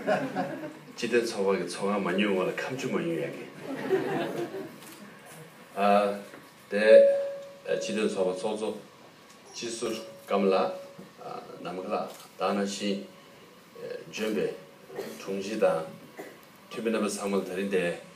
སྤྱི་དོན་ཚོགས་པ་གི་ཚོགས་ཁང་མ་ཉོས་སྔོན་ལ་ཁམས་ཆུ་མ་ཉོས་ཡག་གི། ཨ། དེ། སྤྱི་དོན་ཚོགས་པ་ཚོགས་གཙོ། སྤྱི་ཟུར་ཀམ་ལ། ནམ་མཁའ་ལགས་དང་ནང་བཞིན། ལྗོན་པའི། དྲུང་ཆེ་དང། འཐུས་མི་རྣམ་པ་ཚང་མ་ལ་ད་རིང་འདས།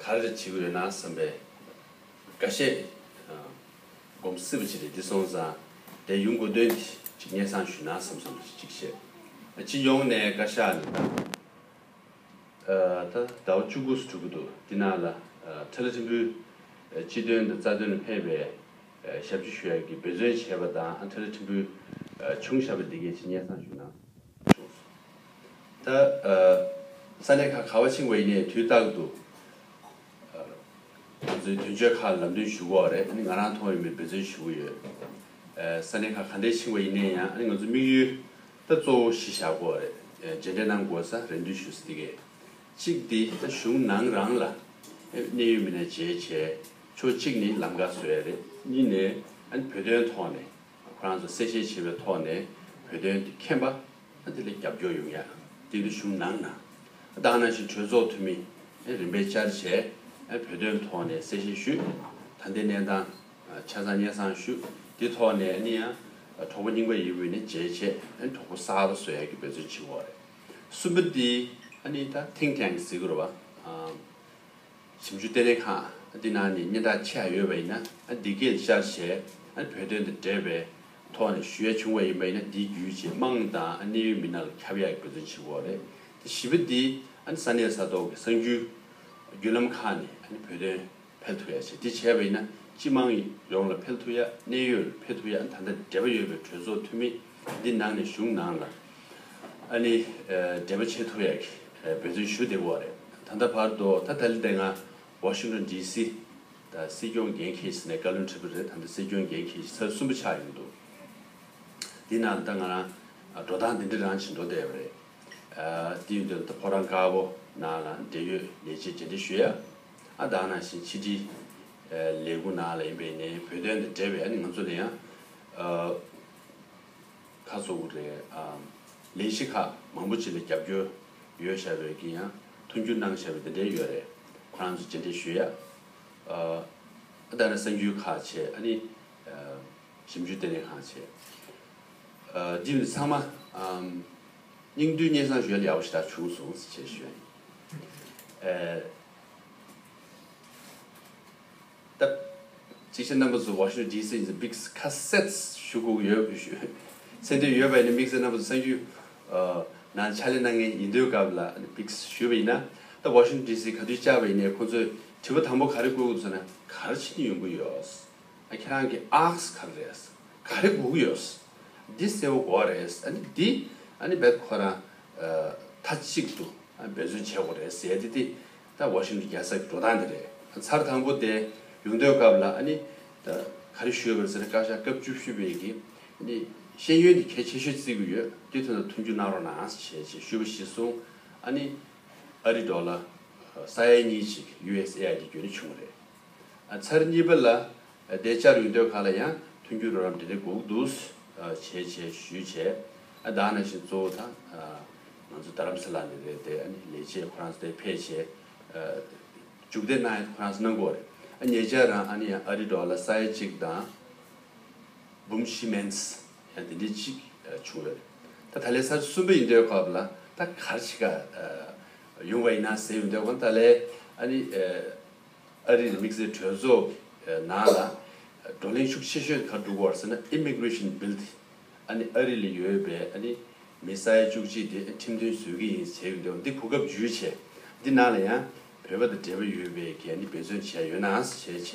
ག་རེ་བྱེད་ཀྱི་ཡོད་ན་བསམ་པའི་དགའ་བཤད་སྒོམ་སྲིད་པ་ཅིག་རེད་འདི་སོང་ཙང་དེ་ཡུལ་མགོ་འདོན་ཅིག་སྙན་སང་ཞུས་ན་བསམ་བསམ་བྱེད་ཅིག་བཤད་སྤྱི་ཡོངས་ནས་བཀའ་ཤག་ནས་ད་ད་ཟླ་བ་བཅུ་དགུ་སུ་གྲུབ་ཀྱི་འདུག་འདི་ནང་ལ་ཁྲི་ལ་ཁྲི་འབུལ་སྤྱི་དོན་དང་རྩ་དོན་ལ་ཕན་པའི་ཞབས་ཕྱི་ཞུ་ཡ་གི་འབད་བརྩོན་བྱས་པ་དང་ཁྲི་ལ་ཁྲི་འབུལ་ཆུང་ཞབས་པ་འདི་གས་ཅིག་སྙན་སང་ཞུས་ན་བྱུང་སོང། ད་ས་གནས་ཁག་ག་བ་ཕྱིན་དགོས་ཡིན་ནའི་དུས་རྟག་ཏུ་འབད་བརྩོན་དོན་འཁྱོལ་ཁག་ལམ་སྟོན་ཞུ་གོ་རེད་ང་རང་མཐོང་ཡོད་མེད་འབད་བརྩོན་ཞུ་གི་ཡོད་ས་གནས་ཁག་ག་འདྲའི་ཕྱིན་དགོས་ཡིན་ནའི་ཡང་ང་ཚོ་དམིགས་ཡུལ་ད་གཙོ་བོ་གཞི་བཞག་གོ་རེད་རྗེས་འབྲེལ་གནང་དགོས་ས་རེ་འདུན་ཞུ་ས་དེ་གས་གཅིག་འདི་ད་གཞུང་ནང་རང་ལ་གནས་ཡོད་མེད་ནས་བྱས་བྱས་ཆོག་གཅིག་ནི་ལམ་ཁ་བཟོ་ཡ་རེད་གཉིས་ནས་བོད་དོན་ཐོག་ནས་ཁོ་རང་ཚོ་གསལ་བཤད་བྱེད་པའི་ཐོག་ནས་བོད་དོན་དེ་མཁྱེན་པ། དེ་ལས་རྒྱབ་སྐྱོར་ཡོང་ཡ་དེ་འདི་གཞུང་ནང་ན་བདག་ནང་བཞིན་གྲོས་ཚོགས་འཐུས་མི་རིམ་པས་བཅར་བྱས་བོད་དོན་ཐོག་ནས་གསལ་བཤད་ཞུས་ད་འདི་གནས་སྟངས་ཆ་ཚང་སྙན་སང་ཞུས་དེ་ཐོག་ནས་ནི་ཡང་གྲོགས་པོ་རྙིང་པ་ཡི་དབུས་ནས་མཇལ་བྱས་གྲོགས་པོ་གསར་པ་བཟོ་ཡ་གི་འབད་བརྩོན་བྱེད་འོག་རེད་གསུམ་པ་འདི་ནི་ད think tank ཟེར་གི་རུ་བ་ཞིབ་འཇུག་ལྟེ་གནས་ཁང་འདི་ནང་ནས་སྙན་གྲགས་ཆེ་ཧ་ཡོད་པ་ཡིན་ན་འདི་གས་ཤར་ཞེས་བོད་དོན་དང་འབྲེལ་བའི་ཐོག་ནས་ཞུ་ཡ་བྱུང་བ་ཡིན་པ་ཡིན་ན་འདིའི་རྒྱུ་ཆེས་དམངས་དང་གནད་ཡོད་མི་སྣ་ལ་ཁྱབ་ཡ་དགོས་དོན་ཆེན་པོ་རེད་དེ་བཞི་པ་འདི་ས་གནས་ས་ཐོག་གི་གསང་རྒྱུ་བརྒྱུད་ལམ་ཁག་ནས་བོད་དོན་ཕེལ་ཐུབ་ཡ་ཆེ་དེ་བྱས་པ་ཡིན་ན་སྤྱི་དམངས་ཡོངས་ལ་ཕེལ་ཐུབ་ཡ་གནད་ཡོད་ལ་ཕེལ་ཐུབ་ཡ་ད་ལྟ་འབྲེལ་བ་ཡོད་པའི་གྲོས་ཚོགས་འཐུས་མི། འདི་ནང་ནས་གཞུང་ནང་ལ་ཨ་ནི་འབྲེལ་པ་ཆེ་ཐུ་ཡག་གི་འབད་བརྩོན་ཞུ་བདེ་བོ་བ་རེད་ད་ལྟ་བར་དུ་ད་དལ་དེ་ང Washington DC ད་སྲིད་སྐྱོང་འགན་ཁེ་ཞིག་ནས་བཀའ་བློན་ཁྲི་པ་རེད་ད་ལྟ་སྲིད་སྐྱོང་འགན་ཁེ་ཞིག་ཚར་གསུམ་པ་ཆགས་ཡོང་འདུག་དེ་ནང་ད་ང་རང་འགྲོ་སྟངས་དེ་འདྲི་རང་བྱེད་འགྲོ་བདེ་བ་རེད་དེ་ཡོད་དོན་ད་ཕོ་རང་དཀར་པོ་ནང་ལ་འབྲེལ་ཡོད་ལས་བྱེད་རྗེས་འདྲི་ཞུ་ཡ་ཨ་དང་ནང་བཞིན་ཕྱི་དྲིལ་ལས་ཁུངས་ནང་ལ་ཡིན་པའི་ནས་བོད་དོན་དང་འབྲེལ་བའི་ཨ་ནི་ང་ཚོ་ལ་ཡང། ཁ་གཙོ་བོ་རེད། ལས་གཞི་ཁག་མང་པོ་ཅི་ལ་རྒྱབ་སྐྱོར་ཡོད་བྱ་བའི་གི་ཡང་མཐུན་འགྱུར་གནང་བྱ་བའི་འདི་འདྲའི་ཡོད་རེད་ཁོ་རང་ཚོ་ཇི་འདྲའི་ཞུ་ཡ། ཨ་ད་ར་གསར་འགྱུར་ཁག་བྱས་ཨ་ནི་ཞིབ་འཇུག་ལྟེ་གནས་ཁང་བྱས། འདི་ནི་ཚང་མ་སྙིང་རྡུལ་སྙན་བཟང་བཞོལ་ཡག་པོ་ཞིག་ད་བྱུང་སོང་ཟེར་བྱས་ཞུ་ཡ་ཡིན། བཏབ། ཅིག་ཤོས་རྣམ་པ་ཚོས་བ་ཤོས་ཇི་སྲིད་ནས Big Cassettes ཞུ་གུག་ཡོད་ཚེ་དོན་ཡོད་པ་ཡིན་ན་དམིགས་བསལ་རྣམ་པ་ཚོས་གསང་རྒྱུད་ནང་ཕྱག་ལས་གནང་མཁན་ཡིན་དོན་སྐབས་ལ Big ཞུས་པ་ཡིན་ན་ད་བ་ཤོན་ཇི་སྲིད་ག་དུས་བཅར་བ་ཡིན་ནས་ཁོང་ཚོས་དྲི་བ་དང་པོ་ག་རེ་བཀོད་གུག་ཚོ་ན་ག་རེ་ཕྱིན་རྒྱུ་ཡོང་གི་ཡོད། ཨ་ཁྱེད་རང་གི Ask ག་རེ་རེད། ག་རེ་གུག་ཡོད། འདི་གསལ་བོ་གོ་བ་རེད་ཨ་ནི་འདི་ཨ་ནི་རྦད་དེ་ཁོ་རང་ཐ་གཅིག་ཏུ་འབད་བརྩོན་བྱས་གོ་རེད་ཟེར་དེ་དེ་ད་བར་ཤིན་ཏུ་རྒྱལ་སར་གྱི་འགྲོ་སྟངས་དེ་རེད། ཚར་དང་པོ་དེ་ལུང་སྟོན་སྐབས་ལ་ནི། ག་རེ་ཞུས་པར་ཟེར་ན་བཀའ་ཤག་སྐབས་བཅུ་བཞི་པས་ཀྱི་ནི། ཤེས་ཡོན་དེ་གལ་ཆེ་ཤོས་བརྩི་གི་ཡོད་དེ་དོན་དང་མཐུན་འགྱུར་གནང་རོགས་གནང་བྱེད་ཅེས་ཞུས་པ་གཞི་བཟུང། ཨ་ནི། ཨ་རི་འགྲོ་ལ། ས་ཡ་གཉིས་གཅིག USAID བརྒྱུད་ནས་བྱུང་བ་རེད། ཚར་གཉིས་པ་ལ་བདེ་བཅར་ཡུལ་སྡོད་ཁག་ལ་ཡང་མཐུན་འགྱུར་རོགས་རམ་འབྲེལ་འདྲིས་འགོག་སྡུད་བྱེད་ཆེད་ཞུས་ཆེད་བདག་ནང་བཞིན་གཙོ་བོ་དང་ང་ཚོ་རྡ་རམ་ས་ལ་ནས་རེད་དེ་ལས་བྱེད་ཁོ་རང་ཚོ་དེ་ཕེད་ཆེད་རྒྱུགས་འདེད་གནང་ཡོད་ཁོ་རང་ཚོ་གནང་དགོས་རེད་ཉེ་ཆར་རང་ཨ་རི་འགྲོ་བ་ལ་ས་ཡ་གཅིག་དང་འབུམ་བཞི་མནས་ཡང་དེ་འདྲའི་གཅིག་བྱུང་ཡོད་རེད་ད་ད་ལས་ཚར་གསུམ་པའི་ཡུལ་སྡོད་ཁག་ལ་ད་གར་ཆེད་ཁག་ཡོང་བ་ཡིན་ན་ཟེར་ཡུལ་སྡོད་ཁང་ཏཱ་ལའི་ཨ་རིའི་དམིགས་བསལ་གྲོས་ཚོགས་ནང་ལ་བགྲོ་གླེང་ཤུགས་ཆེ་ཤོས་གང་བསྒྲུབ་བར་ཟེར་ན Immigration Bill དེ་ཨ་ནི་ཨ་རི་ལ་ཡོད་པའི་ཨ་ནི་མི་ས་ཡ་བཅུ་གཅིག་དེ་ཁྲིམས་མཐུན་བཟོས་ཀྱི་ཡིན་ཟེར་གྱི་འདུག་འདི་གོ་སྐབས་ཇུས་བྱས་འདི་ནང་ལ་ཡང་བོད་པ་དང་འབྲེལ་བ་ཡོད་པའི་གན་ནི་འབད་བརྩོན་བྱས་ཡོད་ནའང་བྱས་བྱས་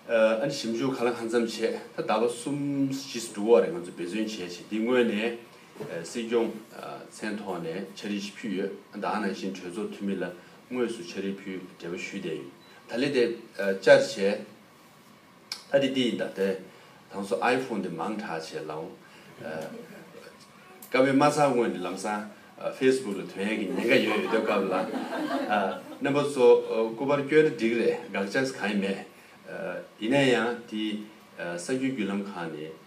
ཨ་ནི་ཞིབ་འཇུག་གང་ལ་གང་འཚམ་བྱས་ད་ཟླ་བ་གསུམ་བཞི་སུ་འགྲོ་བ་རེད་ང་ཚོ་འབད་བརྩོན་བྱས་བྱས་འདི་དངོས་ནས་སྲིད་སྐྱོང་མཚན་ཐོག་ནས་འཆར་གཞི་ཞིག་ཕུལ་ཡོད་ད་ནང་བཞིན་གྲོས་ཚོགས་འཐུས་མི་ལ་དངོས་སུ་ཕྱག་རིས་ཕུལ་འབྲས་བུ་ཞུས་བསྡད་ཡིན། ད་ལེ་དེ་བསྐྱར་བྱས། ད་དེ་འདི་ཡིན་ད་དེ། དང་སོ་ཨའི་ཕོན་དེ་མང་དྲག་བྱས་ལ་འོང། སྐབས་དབེན་མ་ཚང་དངོས་ནས་ལམ་སང Facebook ལ་དོན་ཡག་གི་ཉེན་ཁ་ཡོད་ཡོད་སྡོད་སྐབས་ལ། རྣམ་པ་ཚོ་སྐུ་པར་བསྐྱོན་ན་འགྲིག་རེད་དགག་བྱ་གང་ཡང་མེད། ཡིན་ན་ཡང་དེ་གསར་འགྱུར་བརྒྱུད་ལམ་ཁང་ནས་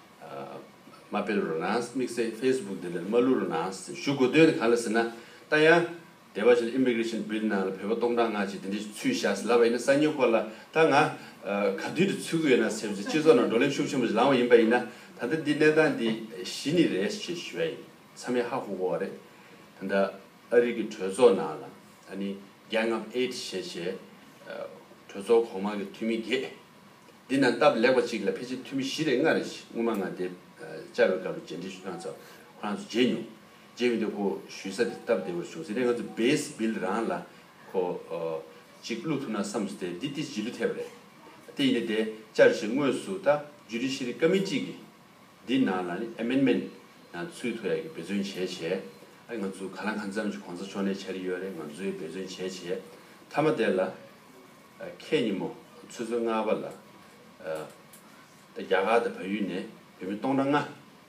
མ་སྤེལ་རོགས་གནང་དམིགས་བསལ Facebook འདི་འདྲར་མ་བླུག་རོགས་གནང་ཞུ་དགོས་དོན་གང་ལ་ཟེར་ན་ད་ཡང། སྡེ་བ་ཆེན Immigration Bill ནང་ལ་བོད་པ་སྟོང་ཕྲག་ལྔ་ཅིག་དེ་འདྲའི་ཚུལ་བཞག་ཟིན་ལབ་པ་ཡིན་ན་གསར་ཉོ་ཁོ་ལ་ད་ང་ག་དུས་དུ་ཚུད་ཀི་ཡོད་ན་ཟེར་བྱས་སྤྱི་ཚོགས་ནང་བགྲོ་གླེང་ཤུགས་ཆེན་པོ་ཞིག་ལངས་བ་ཡིན་པ་ཡིན་ན་ད་ལྟ་འདི་གནས་སྟངས་འདི་གཞི་ནི་རེད་ཅེས་ཞུ་ཡ་ཡིན་ཚ་མེད་ཧ་གོ་གོ་བ་རེད། ད་ལྟ་ཨ་རིག་གི་གྲོས་ཚོགས་ནང་ལ་ཨ་ནི Gang of Eight ཞེས་བྱས་གྲོས་ཚོགས་གོང་མ་གི་འཐུས་མི་བརྒྱད། འདི་ནང་སྟབས་ལེགས་པ་གཅིག་ལ་ཕལ་ཆེར་འཐུས་མི་བཞི་རེ་ལྔ་རེ་ཞིག་སྔོན་མ་ང་འདས་བཅར་བའི་སྐབས་རེ་མཇལ་འཕྲིན་ཞུ་སྟངས་ཙམ་ཁོ་རང་ཚོ་བརྗེད་མྱོང། རྗེས་མི་དེ་ཁོ་བཞུད་ས་དེ་སྟབས་བདེ་བོར་བྱུང་ཟེར་ནས་ང་ཚོ་བེས་སྦིལ་རང་ལ་ཁོ་ཅིག་བླུགས་ཐུབ་ན་བསམས་སོ་དེ་འདི་ཏི་ཇི་ལུས་ཐལ་བ་རེད། དེ་ཡིན་ནའི་དེ་བཅར་བྱེད་དངོས་སུ་ད་ཇུ་རི་ཤི་རི་ཀ་མི་གཅིག་གིས་འདི་ནང་ལ་ནི Amendment ནང་ཚུད་ཐུ་ཡ་གི་འབད་བརྩོན་བྱས་བྱས་ཨ་རེ་ང་ཚོ་ག་ལ་གང་འཚམས་ཀྱི་གོང་ས་མཆོག་ནས་བྱ་རི་ཡོད་རེད་ང་ཚོའི་འབད་བརྩོན་བྱས་བྱས་མཐའ་མ་དེ་ལ་ཁྱེད་ཉིན་མོ་ཚོད་ཚོད་ལྔ་བ་ལ་ད་རྒྱ་གར་དང་བལ་ཡུལ་ནས་བོད་མི་སྟོང་ཕྲག་ལྔ་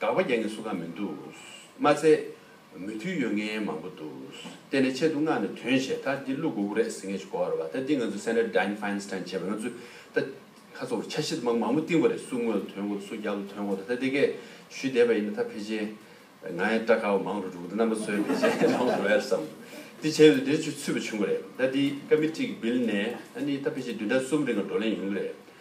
དགག་པ་རྒྱག་མཁན་སུ་གང་མི་འདུག། མ་ཚད། མོས་མཐུན་ཡོད་མཁན་མང་པོ་འདུག། བལྟས་ནས་ཆེད་དུ་མངགས་ནས་དོན་བྱས་ད་འདི་ཀླུ་གོ་གུ་རེད་ཟེར་མཁན་ཞིག་གོ་བར་བ་ད་འདི་ང་ཚོའི་སེ་ནེར་དཱིན་ཧྥའིན་སྟཱིན་བྱས་པ་ང་ཚོས་ད་ཁ་ཚོགས་ལ་ཆ་ཤེས་དམག་མང་པོ་བཏིང་བ་རེད་སུ་དངུལ་ལ་དོན་གོ་ད་སུ་རྒྱག་ལ་དོན་གོ་ད་ད་འདི་སྐད་ཞུས་བསྡད་པ་ཡིན་ན་ད་ཕལ་ཆེར་ང་ཡང་སྐྲག་ཁ་བ་མང་རུ་འགྲོ་གི་འདུག་རྣམ་པ་ཚོས་བལྟས་ཆ་མང་པོ་འགྲོ་ཡ་རེད་བསམ། འདི་བྱས་པས་འདིར་ཆུ་ཚུད་པ་བྱུང་གི་རེད་ད་འདི་ཀ་མི་ཏྲིག་གི་བིལ་ནས་ད་ནི་ད་ཕལ་ཆེར་བདུན་ཕྲག་གསུམ་རིང་ལ་བགྲོ་གླེང་ཡོང་གི་རེད།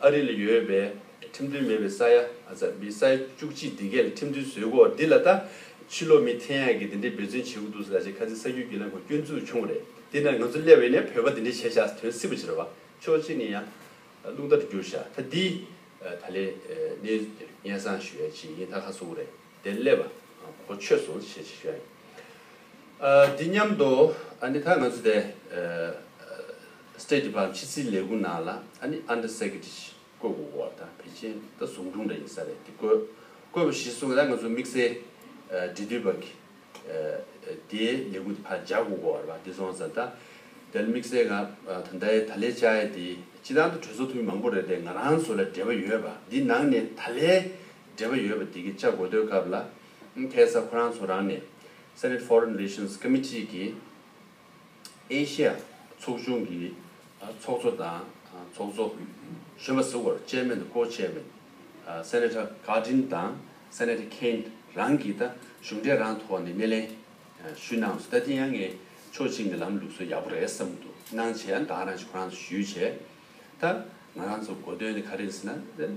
ཨ་རི་ལ་ཡོད་པའི་ཁྲིམས་མཐུན་མེད་པའི་ས་ཡ་མི་ས་ཡ་བཅུ་གཅིག་སྒྲིག་འགལ་ལ་ཁྲིམས་མཐུན་བཟོས་གོ་འདི་ལ་ད་ཕྱི་ལོ་མི་ཐེ་ཡང་གི་དེ་འདྲའི་འབད་བརྩོན་བྱེད་དགོས་འདུག་ཟེར་ལ་ཆེ་ཁ་ཚིག་ས་རྒྱུས་ཀྱི་ལ་མགོ་སྐྱོན་འཛུགས་བྱུང་བ་རེད་དེ་ན་ང་ཚོ་སླེ་བའི་ནས་བོད་པ་དེ་འདྲའི་བྱས་བཞག་དོན་སྲིད་པོ་བྱེད་ར་བ་ཆོག་ཅིག་ནས་ཡང་རླུང་རྟ་རུ་འགྱུར་བཞག་ད་འདི་ད་ལེ་ནས་སྙན་སང་ཞུ་ཡ་ཅིག་ཡིན་ད་ཁ་སོ་བོ་རེད་དེ་སླེ་བ་གོ་ཆོད་སོང་ཞེས་ཞུ་ཡ་ཡིན་ཨ་འདི་སྙམ་དུ་ཨ་ནི་ད་ང་ཚོ་དེ། State Department ཕྱི་སྲིད་ལས་ཁུངས་ནང་ལ་ཨ་ནི Under Secretary ཞེས་བཀོད་དགོས་གོ་བ་དང་བེ་ཅན་དང་ཟུང་དྲུང་འདྲ་ཡིན་ས་རེད་དེ་བཀོད། བཀོད་པ་གཞི་བཟུང་ང་ད་ང་ཚོ་དམིགས་བསལ་འབྲེལ་མཐུད་པ་གི་དེའི་ལས་ཁུངས་དེ་ཕར་རྒྱག་དགོས་གོ་བ་རེད་བ་དེ་བཟུང་བ་ཙང་ད་དེ་ལ་དམིགས་བསལ་ང་ད་ལྟའི་ད་ལའི་བཅའ་ཡས་དེ་སྤྱི་ཐང་དུ་གྲོས་ཚོགས་འཐུས་མི་མང་པོ་རེད་དེ་ང་རང་ཚོ་ལ་འབྲེལ་བ་ཡོད་བ་དེའི་ནང་ནས་ད་ལའི་འབྲེལ་བ་ཡོད་བ་དེ་གི་བཅའ་དགོས་འདོད་སྐབས་ལ་ཐལ་ས་ཁོ་རང་ཚོ་རང་ནས Senate Foreign Relations Committee གི་ཨེ་ཤེ་ཡ་ཚོགས་ཆུང་གི་ཚོགས་གཙོ་དང་ཚོགས་གཙོ་གཞོན་པ་ཟུར་བར་ཅེར་མེན་དང་ཀོ་ཅེར་མེན། Senator Cardin དང Senator Kaine། རང་གིས་ད་གཞུང་འབྲེལ་རང་ཐོག་ནས་སྣེ་ལེན་ཞུས་གནང་སོང་ད་དེ་ཡང་ངས་ཆོག་མཆན་གྱི་ལམ་ལུགས་སུ་ཡག་པོ་རེད་བསམ་འདུག་གནང་བྱས་ཡང་དག་རང་གིས་ཁོ་རང་ཚོ་ཞུས་བྱས་ད་ང་རང་ཚོ་གོ་དོན་ནི་ག་རེ་ཡིན་ཟེར་ན།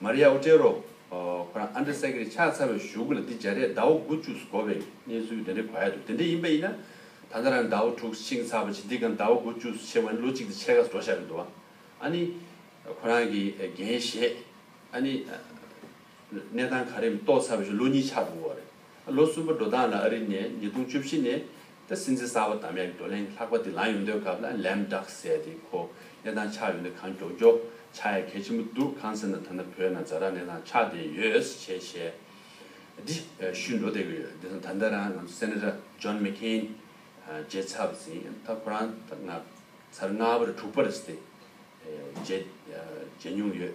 མཱ་རི་ཡཱ་ཨོ་ཏྲེ་རོ། ཁོ་རང་ཨན་ཏྲེ་སེ་ཀེ་རི་ཕྱག་འཚལ་བའི་བཞུགས་སྒར་ལ་འདི་སྦྱར་རས་ཟླ་བོ་དགུ་བཅུ་སུ་འགོར་བའི་གནས་ཚུལ་དེ་འདྲའི་གོ་ཡ་འདུག་དེ་འདྲ་ཡིན་པ་ཡིན་ན། ད་ལྟ་རང་ཟླ་བོ་དྲུག་བཅིངས་ཚར་བ་ཇི་འདི་གང་ཟླ་བོ་དགུ་བཅུ་སུ་ཕྱེ་བ་ནི་ལོ་གཅིག་དང་ཕྱེད་ཀ་སུ་འགྲོ་བཞག་གི་འདུག་ཨང། ཨ་ནི། ཁོ་རང་གི་འགན་བཞེས། ཨ་ནི། གནས་སྟངས་ག་རེ་ཡིན་མིན་རྟོགས་ཚར་བའི་ཞོར་ལོ་གཉིས་ཆགས་འདུག་བ་རེད། ལོ་གསུམ་པ་འགྲོ་སྟངས་ལ་ཨ་རི་ནས་ཉིས་སྟོང་བཅུ་བཞི་ནས་ད་སྲིད་འཛིན་གསར་པ་དམ་ཡག་གི་བགྲོ་གླེང་ལྷག་པ་དེ་ལངས་ཡོང་འདོད་སྐབས་ལ་ལན་བསྒྲགས་ཟེར་ཏེ་ཁོ་གནས་སྟངས་ཆགས་ཡོང་དུས་གང་མགྱོགས་མགྱོགས་ཆགས་ཡ་གལ་ཆེན་པོ་འདུག་གང་ཟེར་ན་ཐ་ན་བོད་ནང་རྫ་ར་གནས་སྟངས་ཆགས་བསྡད་ཡོད་ཞེས་བཤད་དེ་ཤུལ་འགྲོ་བསྡད་ཀྱི་ཡོད་དེ་སང་ད་ལྟ་རང་ང་ཚོ Senator John McCain མཇལ་ཚར་ཟིན་ད་ཁོ་རང་ད་ང་ཚར་ལྔ་པ་རེད་དྲུག་པ་རེད་ཟེར་ཏེ་མཇལ་མྱོང་ཡོད།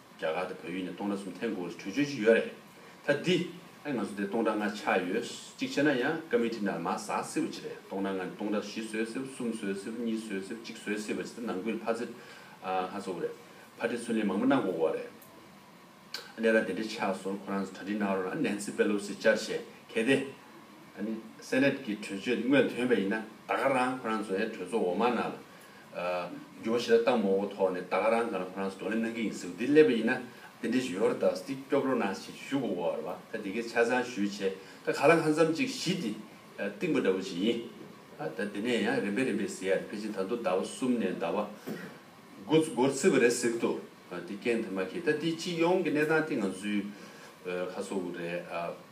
རྒྱ་གར་དང་བོད་ཡུལ་ནས་སྟོང་ཕྲག་གསུམ་ཐེངས་གོ་བོ་ཆུ་བཅོས་ཀྱི་ཡོད་རེད་ད། འདི་ང་ཚོ་དེ་སྟོང་ཕྲག་ལྔ་ཆགས་ཡོད་གཅིག་བྱས་ན་ཡང་ཀ་མི་ཏི་ནར་མ་ཟ་སྲིད་པ་ཅི་རེད་སྟོང་ཕྲག་ལྔ་ནས་སྟོང་ཕྲག་བཞི་བཟོས་སྲིད་བསུམ་བཟོས་སྲིད་བ་གཉིས་བཟོས་སྲིད་བ་གཅིག་བཟོས་སྲིད་པ་ཅི་ད་ནང་ཁུལ་ཕ་ཚེ་ལྷ་གཙོ་བོ་རེད་ཕ་ཁྲི་ཚུན་ལེན་མང་པོ་གནང་དགོས་བ་རེད་ཨ་ནས་ར་དེ་འདྲ་ཆགས་སོང་ཁོ་རང་ཚོ་གྲ་སྒྲིག་གནང་རོགས་ཨ Nancy Pelosi བཅར་བྱས་གལ་ཏེ Senate གི་གྲོས་ཆོད་དེ་དངོས་དོན་བས་ཡིན་ན་ད་ག་རང་ཁོ་རང་ཚོའི་གྲོས་ཚོགས་འོག་མ་ནང་ལ་ཇོ་ཞེ་ད་ལྟ་མོ་བོ་ཐོག་ནས་ད་ག་རང་ག་ནང་ཁོ་རང་ཚོ་བགྲོ་གླེང་གནང་གི་ཡིན་ཟེར་བ་འདི་སླེབས་པ་ཡིན་ན་དེ་འདྲའི་ཞོ་ར་དག་སྟེ་སྐྱོབ་རོགས་གནང་ཞེས་ཞུ་དགོས་བར་བ་ད་དེ་གའི་ཆ་ཚང་ཞུས་བྱས་ད་ག་ལ་ཁ་མཚམས་གཅིག་བཞི་དེ་གཏིང་པོ་འདྲ་བོ་ཞིག་ཡིན་ཨ་ད་དེ་ནས་ཡང་རིམ་པས་རིམ་པས་ཟེར་ཡ་ནི་ཕལ་ཆེར་ད་མདོ་ཟླ་བ་གསུམ་ནས་ཟླ་བ་དགུ་འགོར་བརྩི་བ་རེད་ཟེར་གི་འདུག་དེ་རྐྱེན་དེ་མ་ཁེལ་ད་དེའི་སྤྱི་ཡོངས་ཀྱི་གནས་སྟངས་དེ་ང་ཚོའི་ཁ་སོ་རེད་ཨ།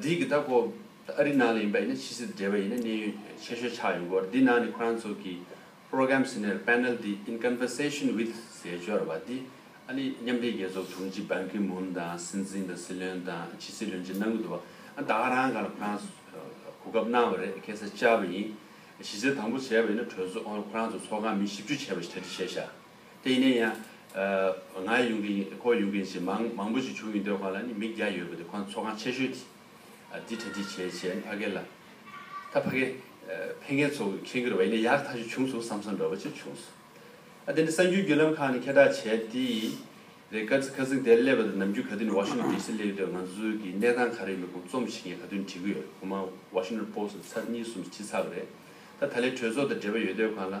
འདི་གི་ད་ཁོ་ཨ་རི་ནང་ལ་ཡིན་པ་ཡིན་ན་ཕྱི་སྲིད་འབྲེལ་བ་ཡིན་ན་གནས་ཡུལ་ཆེ་ཤོས་ཆགས་ཡོད་སྐོར་འདི་ནང་ནས་ཁོ་རང་ཚོ་གི Program Scenario Panel འདི In Conversation With ཟེར་འབྱོར་བ་འདི་ཨ་རི་མཉམ་འབྲེལ་རྒྱལ་ཚོགས་དྲུང་ཆེ Ban Ki Moon དང་སྲིད་འཛིན་དང་སྲིད་བློན་དང་ཕྱི་སྲིད་བློན་ཆེན་གནང་གི་འདུག་བ་ཨ་ད་ག་རང་ག་ལ་ཁོ་རང་གོ་སྐབས་གནང་བ་རེད་ཁེ་སེ་བཅར་བ་ཡིན་གཞི་རྩའི་དང་པོ་བྱས་པ་ཡིན་ན་གྲོས་ཚོགས་ཁོ་རང་ཚོ་ཚོགས་ཁང་མི་བཞི་བཅུ་བྱས་པ་ཞིག་གྲ་སྒྲིག་བྱས་ཤག། དེ་ནས་ཡང། ང་ཡོང་གིན་ཁོ་ཡོང་གིན་ཞེས་མང་མང་པོ་ཞིག་བྱུང་ཡོད་འདུག་ཁོང་ལ་ནི་མིག་བརྒྱ་ཡོད་པ་འདུག་ཁོང་ཚོ་ཁང་ཆེ་ཤོས་དེ། འདི་གྲ་འགྲིག་བྱས་བྱས་ནས་ཕ་གི་ལ། ད་ཕ་གི། ཕས་ངེད་ཚོ་ཁྱེད་ཀྱི་རེ་བའི་ནི་ཡག་ཐག་ཅིག་བྱུང་སོང་བསམ་བསམ་འདྲ་བོ་ཅིག་བྱུང་སོང། དེ་ནས་གསར་འགྱུར་བརྒྱུད་ལམ་ཁག་ནས་ཁེ་གྲགས་བྱས་ཏེ། རེད་དཀར་རྩི་ཁ་ཟིང་དེར་སླེབས་པ་དང་ནམ་རྒྱུན་ག་དུས་ནས་ཝ་ཤིང་ཏོན་ལྡི་སིར་སླེབས་ཡོད་འདོད་ང་ཚོའི་གི་གནས་སྟངས་ག་རེ་ཡིན་པ་ཁོང་རྩོམ་ཞིག་ངས་ག་དུས་ནས་བྲིས་གི་ཡོད་ཁོང་མ་ཝ་ཤིང་ཏོན་པོ་སི་ཚར་གཉིས་གསུམ་བྲིས་ཚར་བ་རེད། ད་ད་ལའི་གྲོས་ཚོགས་དང་འབྲེལ་བ་ཡོད་འདོད་ཁོང་ལ།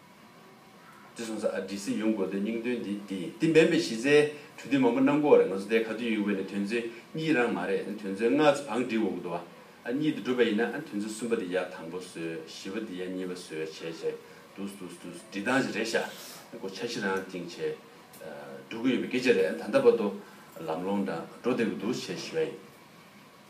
འདི་གསུངས་ས་ཨ་བྲིས་སི་ཡོང་དགོས་དོན་སྙིང་དོན་འདི་འདི་ཡིན་འདི་འབེན་པའི་གཞི་རྩའི་གྲོས་མཐུན་མང་པོ་གནང་དགོས་བ་རེད་ང་ཚོ་དེ་ག་དུས་ཡོང་གི་བའི་ནི་དོན་ཚོན་གཉིས་རང་མ་རེད་ནི་དོན་ཚོན་ལྔ་ཚོ་བང་བསྒྲིགས་འོག་ཏུ་བ་ཨ་གཉིས་དེ་འགྲུབ་པ་ཡིན་ན་དོན་ཚོན་གསུམ་པ་དེ་ཡར་དང་པོ་བཟོས་བཞི་བ་དེ་ཡར་གཉིས་པ་བཟོས་བྱས་བྱས་འདུག་འདུག་འདུག་བསྒྲིགས་སྟངས་ཞིག་རེད་ཤག་སྒོ་ཆ་བཞི་རང་ཐིང་བྱས་འགྲོ་གི་ཡོད་པའི་སྐད་ཆ་རེད་ད་ལྟ་བར་དུ་ལམ་ལོང་འདྲ་འགྲོ་བསྡད་ཀྱི་འདུག་བྱས་བཞི་བ་ཡིན།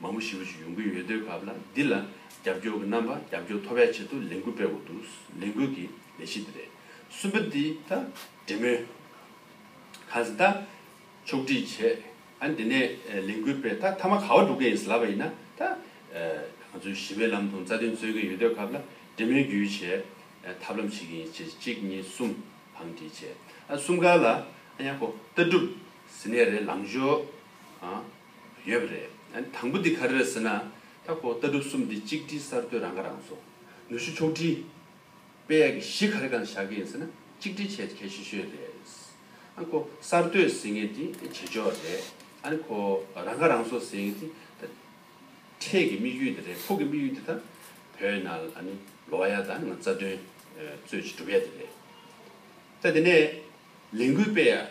མང་པོ་ཞི་བ་ཞིག་ཡོང་གི་ཡོད་དུས་སྐབས་ལ་འདི་ལ་རྒྱབ་སྐྱོར་གྱི་རྣམ་པ་རྒྱབ་སྐྱོར་མཐོ་བའི་ཆེད་དུ་ལས་འགུལ་སྤེལ་དགོས་འདུག་ལས་འགུལ་གྱི་ལས་གཞི་འདི་རེད། གསུམ་པ་འདི་ད་འབྲེལ་མོལ་གང་ཟེ་ད་ཕྱོགས་སྒྲིག་བྱས་ཨ་འདི་ནས་ལས་འགུལ་སྤེལ་ད་མཐའ་མ་ག་བ་འགྲོ་གི་ཡིན་ཟེ་ལབ་པ་ཡིན་ན་ད་ང་ཚོས་ཞི་བའི་ལམ་དུ་རྩ་དོན་རྩོད་ཀྱི་ཡོད་དུས་སྐབས་ལ་འབྲེལ་མོལ་བརྒྱུད་བྱས་ཐབས་ལམ་བྱེད་ཀྱི་ཡིན་ཞེས་གཅིག་གཉིས་གསུམ་བང་སྒྲིག་བྱས་ཨ་གསུམ་ཀ་ལ་ཨ་ཡག་པོ་ལྟ་གྲུབ་ཟེ་ནས་རེད་ལངས་ཞོག་ཨ། ཡོད་པ་རེད། དང་པོ་འདི་ག་རེད་ཟེར་ན། ད་ཁོག་ལྟ་གྲུབ་གསུམ་འདི་གཅིག་སྒྲིལ་གསར་གཏོད་རང་ཁ་རང་གསོ། ནུས་ཤུགས་ཕྱོགས་སྒྲིལ། དཔེ་ཡག་གི་གཞི་ག་རེ་གང་བཞག་གི་ཡིན་ཟེར་ན་གཅིག་སྒྲིལ་བྱེད་གལ་ཆེ་ཤོས་རེད། ཁོ་གསར་གཏོད་ཟེར་ངེས་འདི་བྱེད་ཕྱོགས་རེད། ཁོ་རང་ཁ་རང་གསོ་ཟེར་ངེས་འདི་ད་འཕྲལ་གི་དམིགས་ཡུལ་འདི་རེད། ཕུགས་ཀྱི་དམིགས་ཡུལ་འདི་ད་བོད་ནང་ལོ་བ་ཡག་དང་རྩ་དོན་རྩོད་ཆེད་སྒྲུབ་ཡ་འདི་རེད། ད་འདི་ནས། ལས་འགུལ་སྤེལ་ཡ།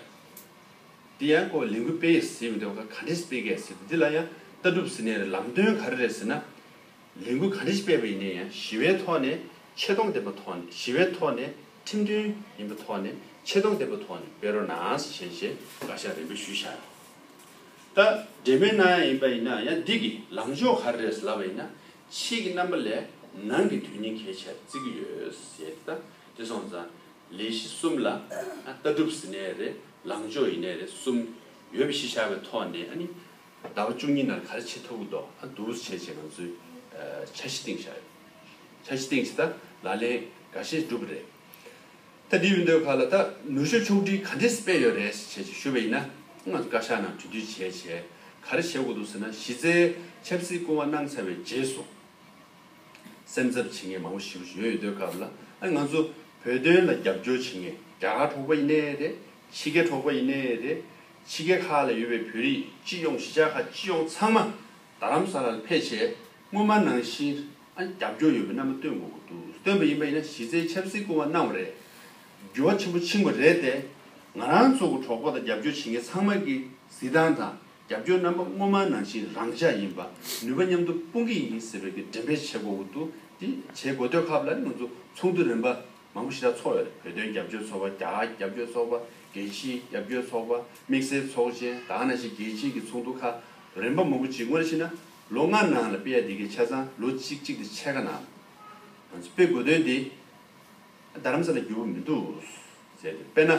དེ་ཡང་ཁོ་ལས་འགུལ་སྤེལ་ཡས་ཟེར་མི་འདུག་ག་འདྲས་སྤེལ་གས་ཟེར་འདི་ལ་ཡང་ལྟ་གྲུབ་ཟེར་ནས་རེད་ལམ་སྟོན་ག་རེ་རེད་ཟེར་ན། ལས་འགུལ་ག་འདྲས་སྤེལ་བ་ཡིན་ན་ཡང་ཞི་བའི་ཐོག་ནས་ཆེ་མཐོང་ལྡན་པ་ཐོག་ནས་ཞི་བའི་ཐོག་ནས་ཁྲིམས་མཐུན་ཡིན་པ་ཐོག་ནས་ཆེ་མཐོང་ལྡན་པ་ཐོག་ནས་སྤེལ་རོགས་གནང་ཞེས་བྱས་རྗེས་བཀའ་ཤག་རེ་འབོད་ཞུས་ཤག་ད་འབྲེལ་མོལ་གནང་ཡ་ཡིན་པ་ཡིན་ན་ཡང་འདི་གི་ལངས་ཕྱོགས་ག་རེ་རེད་ཟེར་ལབ་པ་ཡིན་ན་ཕྱིས་ཀྱི་རྣམ་པ་ལས་ནང་གི་དོན་སྙིང་གལ་ཆེར་བརྩི་གི་ཡོད་ཟེར་ཏེ་ད་དེ་སོང་ཙང་ལས་གཞི་གསུམ་ལ་ལྟ་གྲུབ་ཟིན་ནས་རེད་ལངས་ཕྱོགས་ཡིན་ནས་རེད་གསུམ་ཡོད་པའི་གཞི་བཞག་པའི་ཐོག་ནས་ཨ་ནི་ཟླ་བ་བཅུ་གཉིས་ནང་ག་རེ་བྱེད་ཐུབ་ཀྱི་འདུག་ཨ་བསྡུར་བྱས་རྗེས་ང་ཚོས་འཆར་གཞི་སྟེང་བཞག་ཡོད། འཆར་གཞི་སྟེང་བྱས་ད་ལག་ལེན་འགའ་ཤས་འགྲུབ་པ་རེད། ད་འདི་ཡོད་འདོད་ཁག་ལ་ད་ནུས་ཤུགས་ཕྱོགས་བསྒྲིགས་ག་འདྲས་སྤེལ་ཡོད་རེད་ཞེས་བྱས་རྗེས་ཞུ་བ་ཡིན་ན་ང་ཚོ་བཀའ་ཤག་ནང་གྲོས་བསྡུར་བྱས་རྗེས་ག་རེ་བྱེད་དགོས་འདུག་ཟེར་ན་གཞི་རྩའི་ཆབ་སྲིད་སྐུ་ངོ་གནང་ཚར་བའི་རྗེས་སུ། སེམས་འཚབ་བྱེད་མཁན་མང་པོ་ཞིག་ཡོད་ཡོད་དོད་སྐབས་ལ་ང་ཚོ་བོད་དོན་ལ་རྒྱབ་སྐྱོར་བྱེད་མཁན་རྒྱ་གར་གྲོགས་པོ་ཡིན་ནའི་རེད། ཕྱི་རྒྱལ་གྲོགས་པོ་ཡིན་ནའི་རེད། ཕྱི་རྒྱལ་ཁག་ལ་ཡོད་པའི་བོད་རིགས་སྤྱི་ཡོངས་གཞིས་ཆགས་ཁག་སྤྱི་ཡོངས་ཚང་མ་རྡ་རམ་ས་ལར་ཕེབས་ཆེད་སྔོན་མ་ནང་བཞིན་རྒྱབ་སྐྱོར་ཡོད་པའི་རྣམ་པ་སྟོན་དགོས་ཀྱི་འདུག་སྟོན་པ་ཡིན་པ་ཡིན་ན་གཞི་རྩའི་ཆབ་སྲིད་སྐུ་བ་གནང་བ་རེད། འགྱུར་བ་ཆེན་པོ་ཕྱིན་པ་རེད་དེ། ང་རང་ཚོ་གྲོགས་པོ་དང་རྒྱབ་སྐྱོར་བྱེད་མཁན་ཚང་མ་གིས་གཟི་མདངས་དང། རྒྱབ་སྐྱོར་རྣམ་པ་སྔོན་མ་ནང་བཞིན་རང་འཇགས་ཡིན་པ་ནུས་པ་མཉམ་དུ་སྤུངས་ཀྱི་ཡིན་ཟེར་བའི་གི་འགྲེམས་སྤེལ་བྱེད་དགོས་འོག་ཏུ་དེ་བྱེད་དགོས་དོད་ཁག་ལ་ང་ཚོ་ཚོགས་འདུ་རིམ་པ་མང་པོ་ཞིག་ལ་ཚོགས་ཡོད་རེད་བོད་དོན་རྒྱབ་སྐྱོར་ཚོགས་པ་རྒྱ་གར་རྒྱབ་སྐྱོར་ཚོགས་པ་རྒྱལ་སྤྱིའི་རྒྱབ་སྐྱོར་ཚོགས་པ་དམིགས་བསལ་ཚོགས་ཆེན་དག་ནང་བཞིན་རྒྱལ་སྤྱིའི་གི་ཚོགས་འདུ་ཁག་རིམ་པ་མང་པོ་ཇི་དགོས་ཤེ་ན་ལོ་ལྔ་ནང་ལ་སྤེལ་ཡ་དེ་གི་ཆ་ཚང་ལོ་གཅིག་གཅིག་དེ་ཕྱེད་ཀ་ནང་ང་ཚོ་སྤེལ་དགོས་དོན་དེ། རྡ་རམ་ས་ལ་བསྒྱུར་བ་མི་འདུག། ཟེར་ཏེ་དཔེར་ན།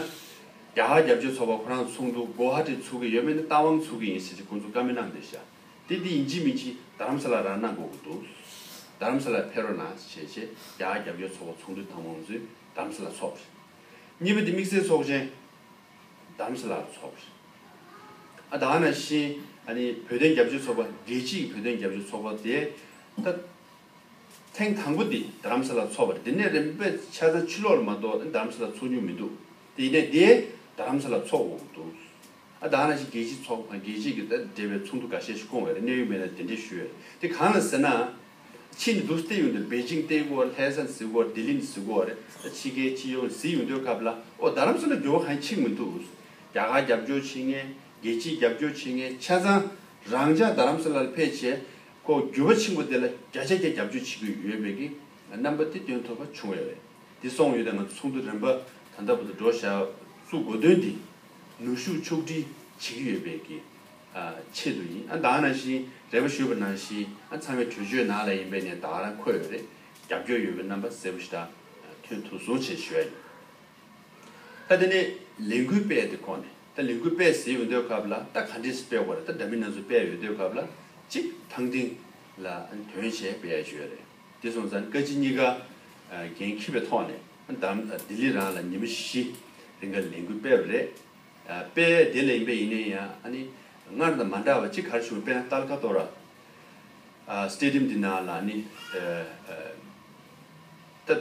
རྒྱ་ཧྭ་རྒྱབ་ཆོས་ཚོགས་པ་ཁོ་རང་ཚུགས་འདུག་གོ་ཧྭ་ཏི་ཚུགས་ཀྱི་ཡོད་མེད་ནི་རྟ་དབང་ཚུགས་ཀྱི་ཡིན་ཟེར་གྱི་ཁོང་ཚོ་བཀའ་མི་གནང་སྟེ་ཤ་ཏི་འདི་ཡིན་གྱི་མིན་གྱི་རྡ་རམ་ས་ལ་རང་གནང་དགོས་ཀྱི་འདུག། རྡ་རམ་ས་ལ་ཕེ་རོ་ན་བྱས་རྗེས་རྒྱ་ཧྭ་རྒྱབ་ཆོས་ཚོགས་པ་ཚུགས་འདུག་ཐང་མང་ཚོས་རྡ་རམ་ས་ལ་ཚོགས་པ་རེད། གཉིས་པ་དེ་དམིགས་བསལ་ཚོགས་ཆེན་རྡ་རམ་ས་ལ་ཚོགས་པ་རེད། ཨ་ད་ཧྭ་ན་ཤིན་ཨ་ནི་བོད་དོན་རྒྱབ་ཆོས་ཚོགས་པ་རྒྱལ་སྤྱིའི་བོད་དོན་རྒྱབ་ཆོས་ཚོགས་པ་དེ་ད། ཐེངས་དང་པོ་འདི་རྡ་རམ་ས་ལ་འཚོགས་པར་འདི་ནས་རིམ་པས་ཆ་ཚང་ཕྱི་ལོགས་ལ་མ་གཏོགས་རྡ་རམ་ས་ལ་འཚོགས་མྱོང་མི་འདུག་དེ་ཡིན་ནའི་འདི་རྡ་རམ་ས་ལ་འཚོགས་འོང་འདུག་ཨ་རྡ་ར་ཤི་རྒྱལ་སྤྱི་ཚོགས་དང་རྒྱལ་སྤྱི་དང་འབྲེལ་བའི་ཚོགས་འདུ་ག་ཤེད་ཤིག་བསྐོང་བའི་རེ་གནས་ཡོད་མེད་ལ་དེ་འདྲས་ཞུ་ཡ་རེད་དེ་གང་ལ་ཟེར་ན། ཕྱིས་འདི་འདུག་སྟེ་ཡོང་འདིར་པེ་ཅིང་སྟེ་གོ་བར་ལྷས་ས་ཟི་གོ་བར་ལྡི་ལི་ནི་ཟི་གོ་བ་རེད་ད་ཕྱི་རྒྱལ་སྤྱི་ཡོངས་ཟི་ཡོང་འདོད་སྐབས་ལ་ཨོ་རྡ་རམ་ས་ལ་འགྱོ་བ་གང་ཆིག་མི་འདུག་རྒྱ་གར་རྒྱབ་སྐྱོར་བྱེད་ངེས་རྒྱལ་སྤྱིས་རྒྱབ་སྐྱོར་བྱེད་ངེས་ཆ་ཚང་རང་ཅག་རྡ་རམ་ས་ལ་ལ་ཕེབས་བྱས་ཁོ་བསྒྱུར་བ་ཆེན་པོ་དེ་ལ་བརྒྱ་ཆ་བརྒྱ་རྒྱབ་སྐྱོར་བྱེད་ཀྱི་ཡོད་པས་ཀྱི་རྣམ་པ་དེ་སྟོན་ཐུབ་པ་བྱུང་བས་རེད། དེ་སོང་ཡོད་དང་ང་ཚོ་ཚོགས་འདུ་རིམ་པ་ད་ལྟ་བུ་དང་འགྲོ་བཞག་བཙུགས་དགོས་དོན་དེ་ནུས་ཤུགས་ཕྱོགས་བསྒྲིལ་བྱེད་ཀྱི་ཡོད་པའི་ཀྱི་ཆེད་དུ་ཡིན། ཨ་དྭགས་ནང་བཞིན་རེད་པ་ཞུས་པ་ནང་བཞིན་ཨ་ཚང་བའི་གྲོས་ཆོད་ནང་ལ་ཡིན་པས་ནས་དྭགས་ལ་འཁོད་ཡོད་རེད་རྒྱབ་སྐྱོར་ཡོད་པའི་རྣམ་པ་གསལ་པོ་ཞིག་ད་ཐོན་ཐུགས་གཟུང་ཆེ་ཞུ་ཡ་ཡིན། ད་དེ་ནས་ལས་འགུལ་སྤེལ་དེ་ཁོ་ནས་ད་ལས་འགུལ་སྤེལ་ཟེར་ཡོད་འདོད་སྐབས་ལ་ད་ག་འདྲས་སྤེལ་དགོས་རེད་ད་འདྲ་མིན་སྣ་ཚོགས་སྤེལ་ཡོད་འདོད་སྐབས་ལ་གཅིག་ཐང་ཏིང་ལ་དོན་བྱས་སྤེལ་ཡ་ཞོད་རེད་དེ་སོང་ཙང་བཀའ་སྤྱི་གཉིས་ཀ་འགན་འཁྱི་བའི་ཐོག་ནས་ད་ལྡི་ལི་རང་ལ་ཉིན་མོ་བཞི་རིང་ག་ལས་འགུལ་སྤེལ་བ་རེད་སྤེལ་ཡ་དེ་ལས་ཡིན་པས་ཡིན་ནའི་ཡང་ཨ་ནི་སྔར་དང་མ་འདྲ་བ་གཅིག་གར་བྱུང་བ་པེ་ན་ཏལ་ཁ་ཏོ་ར Stadium དེ་ནང་ལ་ནི་ད།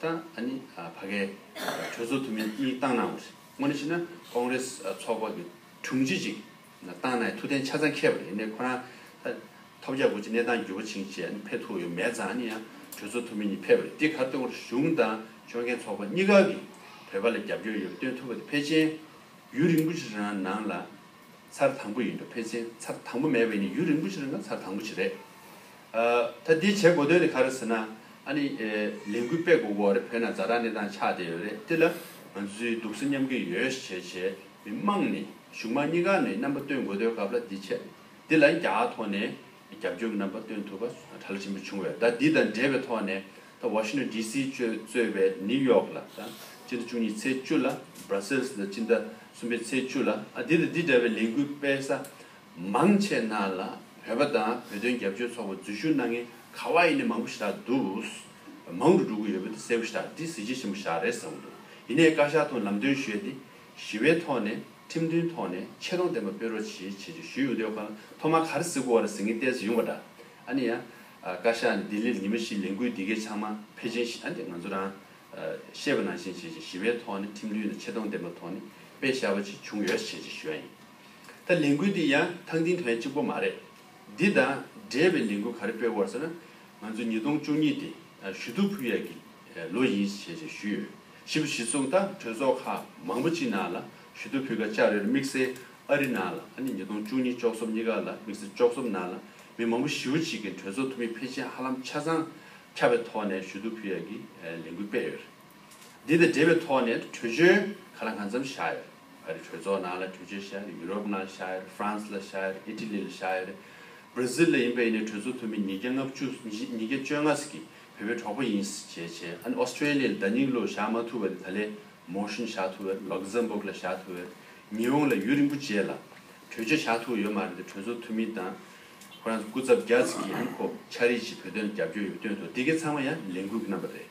དང་ཨ་ནི་བྷ་གའི་གྲོས་ཚོགས་འཐུས་མི་གཉིས་བཏང་གནང་བ་རེད། དངོས་གནས་བྱས་ན་ཀོང་རེ་སི་ཚོགས་པ་གི་དྲུང་ཆེ་ཅིག་བཏང་ནའི་ཐུགས་གཏན་ཆ་ཚང་ཁེལ་བ་རེད་ནས་ཁོ་རང་ཐོབ་རྒྱ་དགོས་ཅི་གནས་སྟངས་འགྱུར་བ་ཕྱིན་ཆད་ཕེབས་ཐུགས་ཡོད་མེད་ཙང་ཨ་ནི་ཡང་གྲོས་ཚོགས་འཐུས་མི་གཉིས་ཕེབས་པ་རེད་དེ་གར་སྟོན་ཁོར་གཞུང་དང་ཆོལ་ཁའི་ཚོགས་པ་གཉིས་ཀ་གི་བོད་པ་ལ་རྒྱབ་སྐྱོར་ཡོད་པ་སྟོན་ཐུབ་པ་དེ་ཕལ་ཆེན་ཡུན་རིང་པོ་ཞིག་རང་ནང་ལ། ཚར་དང་པོ་ཡིན་འགྲོ་ཕལ་ཆེན་ཚར་དང་པོ་མེད་པའི་ནི་ཡུན་རིང་པོ་ཞིག་རིང་ན་ཚར་དང་པོ་ཞིག་རེད། ད་འདི་བྱེད་དགོས་དོན་ནི་ག་རེ་ཟེར་ན། ཨ་ནི། ལས་འགུལ་སྤེལ་དགོས་གོ་རེད་བོད་ནང་རྫ་དྲག་གནས་སྟངས་ཆགས་བསྡད་ཡོད་རེད་དེ་ལ། ང་ཚོའི་སྡུག་ས་མཉམ་གི་ཡོད་ཞེས་བྱས་བྱས་མི་དམངས་ནི་གཞུང་དམངས་གཉིས་ཀ་ནི་རྣམ་པ་སྟོན་དགོས་དོན་སྐབས་ལ་འདི་བྱེད་འདི་ལ་རྒྱག་ཐོག་ནས། རྒྱབ་སྐྱོར་གྱི་རྣམ་པ་སྟོན་ཐུབ་པ་གྲ་ལ་ཆེན་པོ་བྱུང་བས་ཟླ་འདི་དང་འབྲེལ་བའི་ཐོག་ནས་ད་ཝ་ཤིང་ཏོན་ཏི་སི་གཅོད་གཙོས་པའི་ནིའུ་ཡོག་ལ་དང་སྤྱི་ཟླ་བཅུ་གཉིས་ཚེས་བཅུ་ལ་བར་སེལ་སི་ལ་སྤྱི་ཟླ་གསུམ་པའི་ཚེས་བཅུ་ལ་འདི་དང་འདི་འདྲ་བའི་ལས་འགུལ་སྤེལ་ས་མང་ཆེ་གནང་ལ་བོད་པ་དང་བོད་དོན་རྒྱབ་སྐྱོར་ཚོགས་པ་འཛུལ་ཞུགས་གནང་མཁན་ག་ཝ་ཡི་ནས་མང་པོ་ཞེ་དྲག་འདུག་མང་དུ་འགྲོ་གི་ཡོད་པ་དེ་གསལ་བོ་ཞེ་དྲག་འདི་གཟི་བརྗིད་ཆེན་པོ་ཞག་རེད་བསམ་གྱི་འདུག་ཡིན་ནས་བཀའ་ཤག་ཐོག་ལམ་སྟོན་ཞུས་ཏེ་ཞི་བའི་ཐོག་ནས་ཁྲིམས་མཐུན་ཐོག་ནས་ཆེ་མཐོང་ལྡན་པ་སྤེལ་རོགས་བྱེད་བྱེད་བྱེད་ཞུས་ཡོང་དུས་ཁོ་རང་ཐོག་མར་ག་རེ་ཟེར་དགོས་བ་རེ་ཟེར་ངས་བལྟས་ཟིན་ཡོང་བ་འདྲ། ཨ་ནི་ཡང། བཀའ་ཤག་ནས་ལྡི་ལིར་ཉི་མ་བཞིའི་ལས་འགུལ་འདི་གའི་ཕྱགས་མ་ཕེ་ཆེན་ཞི་ཨ་ནི་ང་ཚོ་རང། ཤེས་པ་ནང་བཞིན་བྱེད་བྱེད་ཞི་བའི་ཐོག་ནས་ཁྲིམས་མཐུན་ནས་ཆེ་མཐོང་ལྡན་པ་ཐོག་ནས་སྤེལ་བཞག་པ་ཅིག་བྱུང་ཡོད་བྱེད་བྱེད་ཞུས་ཡ་ཡིན། ད་ལས་འགུལ་འདི་ཡང་ཐང་ཐིང་དོན་གཅིག་པོ་མ་རེད། འདི་དང་འབྲེལ་བའི་ལས་འགུལ་ག་རེ་སྤེལ་དགོས་བ་ཟེར་ན། ང་ཚོ་ཉིས་སྟོང་བཅུ་གཉིས་ཏེ་ཞུ་ཐུག་ཕུལ་ཡས་ཀྱི་ལོ་ཡིན་བྱེད་བྱེད་ཞུས་ཡོད། བཞི་པ་གཞི་ཚུགས་དང་གྲོས་ཚོགས་ཁག་མང་པོ་ཅི་ནང་ལ་ཞུ་གཏུག་ཕུལ་ཁར་ལྕགས་རིར་དམིགས་བསལ་ཨ་རི་ནང་ལ་ཨ་ནི་ཉིས་སྟོང་བཅུ་གཉིས་ལྕོགས་ཚོམས་གཉིས་ཀ་ལ་དམིགས་བསལ་ལྕོགས་ཚོམས་ནང་ལ་མི་མང་པོ་བཞི་བོ་གཅིག་གིས་གྲོས་ཚོགས་འཐུས་མི་ཕལ་ཆེར་ཧ་ལམ་ཆ་ཚང་ཁྱབ་པའི་ཐོག་ནས་ཞུ་གཏུག་ཕུལ་ཡག་གི་ལས་འགུལ་སྤེལ་ཡོད་རེད། འདི་དང་འབྲེལ་བའི་ཐོག་ནས་གྲོས་ཆོད་ག་ལ་འང་ཙམ་བཞག་ཡོད་རེད། ཨ་རི་གྲོས་ཚོགས་ནང་ལ་གྲོས་ཆོད་བཞག་ཡོད་རེད་ཡུ་རོབ་ནང་བཞག་ཡོད་རེད་ཧྥ་རན་སི་ལ་བཞག་ཡོད་རེད་ཨི་ཏི་ལི་ལ་བཞག་ཡོད་རེད། Brazil ལ་ཡིན་པ་ཡིན་ནས་གྲོས་ཚོགས་འཐུས་མི་ཉིས་བརྒྱ་ལྔ་བཅུ་ཉིས་བརྒྱ་བཅོ་ལྔ་ཟིག་གིས་བོད་པའི་གྲོགས་པོ་ཡིན་ཟེར་བྱས་བྱས་ཨ་ནི Australia ལ་བརྡ་རྙིང་ལོ་བཞག་མ་ཐུབ་བ་ནི་ད་ལེ Motion བཞག་ཐུབ་བས Luxembourg ལ་བཞག་ཐུབ་བས་ཉི་འོང་ལ་ཡུལ་རིན་པོ་ཆེ་ལ་གྲོས་ཆོད་བཞག་ཐུབ་བ་ཡོད་མ་རེད་འདི་གྲོས་ཚོགས་འཐུས་མི་དང་ཁོ་རང་ཚོ་སྐུ་ཚབ་རྒྱ་ཚིག་གིས་ཨ་ནི་ཁོ་ཆ་རེད་ཅེས་བོད་དོན་ལ་རྒྱབ་སྐྱོར་ཡོད་སྟོན་ཐོག་དེ་གའི་ཚང་མ་ཡང་ལས་འགུལ་གྱི་རྣམ་པ་རེད་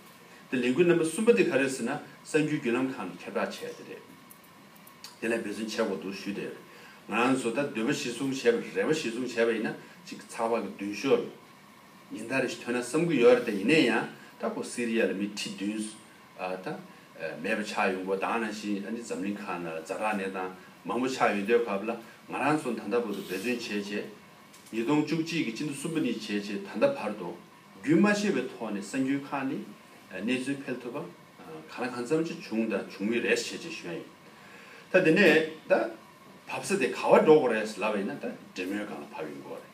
དེ་ལས་འགུལ་རྣམ་པ་གསུམ་པ་དེ་ག་རེད་ཟེར་ན་གསར་འགྱུར་བརྒྱུད་ལམ་ཁང་གིས་ཁྱབ་བསྒྲགས་བྱས་པ་དེ་རེད། དེ་ལ་འབད་བརྩོན་བྱེད་དགོས་འདུག་ཞུས་བསྡད་ཡོད་རེད། ང་རང་ཚོ་ད་འདོད་པ་གཞི་བཟུང་བྱས་པ་རེད་རེ་བ་གཞི་བཟུང་བྱས་པ་ཡིན་ན་གཅིག་ཚགས་པར་གྱི་མདུན་ཤོག་ལ། ཉིན་ལྟར་ཞིག་ཐོན་ན་བསམ་གྱི་ཡོད་རེད་ད་ཡིན་ན་ཡང་ད་ཁོ་སི་རི་ཡ་ལ་མི་ཁྲི་བདུན། ད། མེད་པ་ཆགས་ཡོད་མགོ་དྭངས་ན་བཞིན་ཨ་ནི་འཛམ་གླིང་ཁག་ན་རྫ་དྲག་གནས་སྟངས་མང་པོ་ཆགས་ཡོད་འདོད་སྐབས་ལ་ང་རང་ཚོ་ད་ལྟ་བར་དུ་འབད་བརྩོན་བྱས་བྱས། ཉིས་སྟོང་བཅུ་གཅིག་གི་སྤྱི་ཟླ་གསུམ་པ་ནས་བྱས་བྱས་ད་ལྟ་བར་དུ། རྒྱུན་མ་ཆད་པའི་ཐོག་ནས་གསར་འགྱུར་ཁག་ནས་གནས་ཚུལ་འཕེལ་ཐུབ་པ། གང་ལ་གང་འཚམ་ཅི་བྱུང་དང་བྱུང་མུས་རེད་བྱས་བྱས་ཞོན་ཡོད། ད་དེ་ནས་ད། བབས་ས་དེ་ག་བ་འགྲོ་དགོས་རེད་ལབ་པ་ཡིན་ན་ད་འབྲེལ་མོལ་སྒང་ལ་བབས་ཡོད་མགོ་རེད།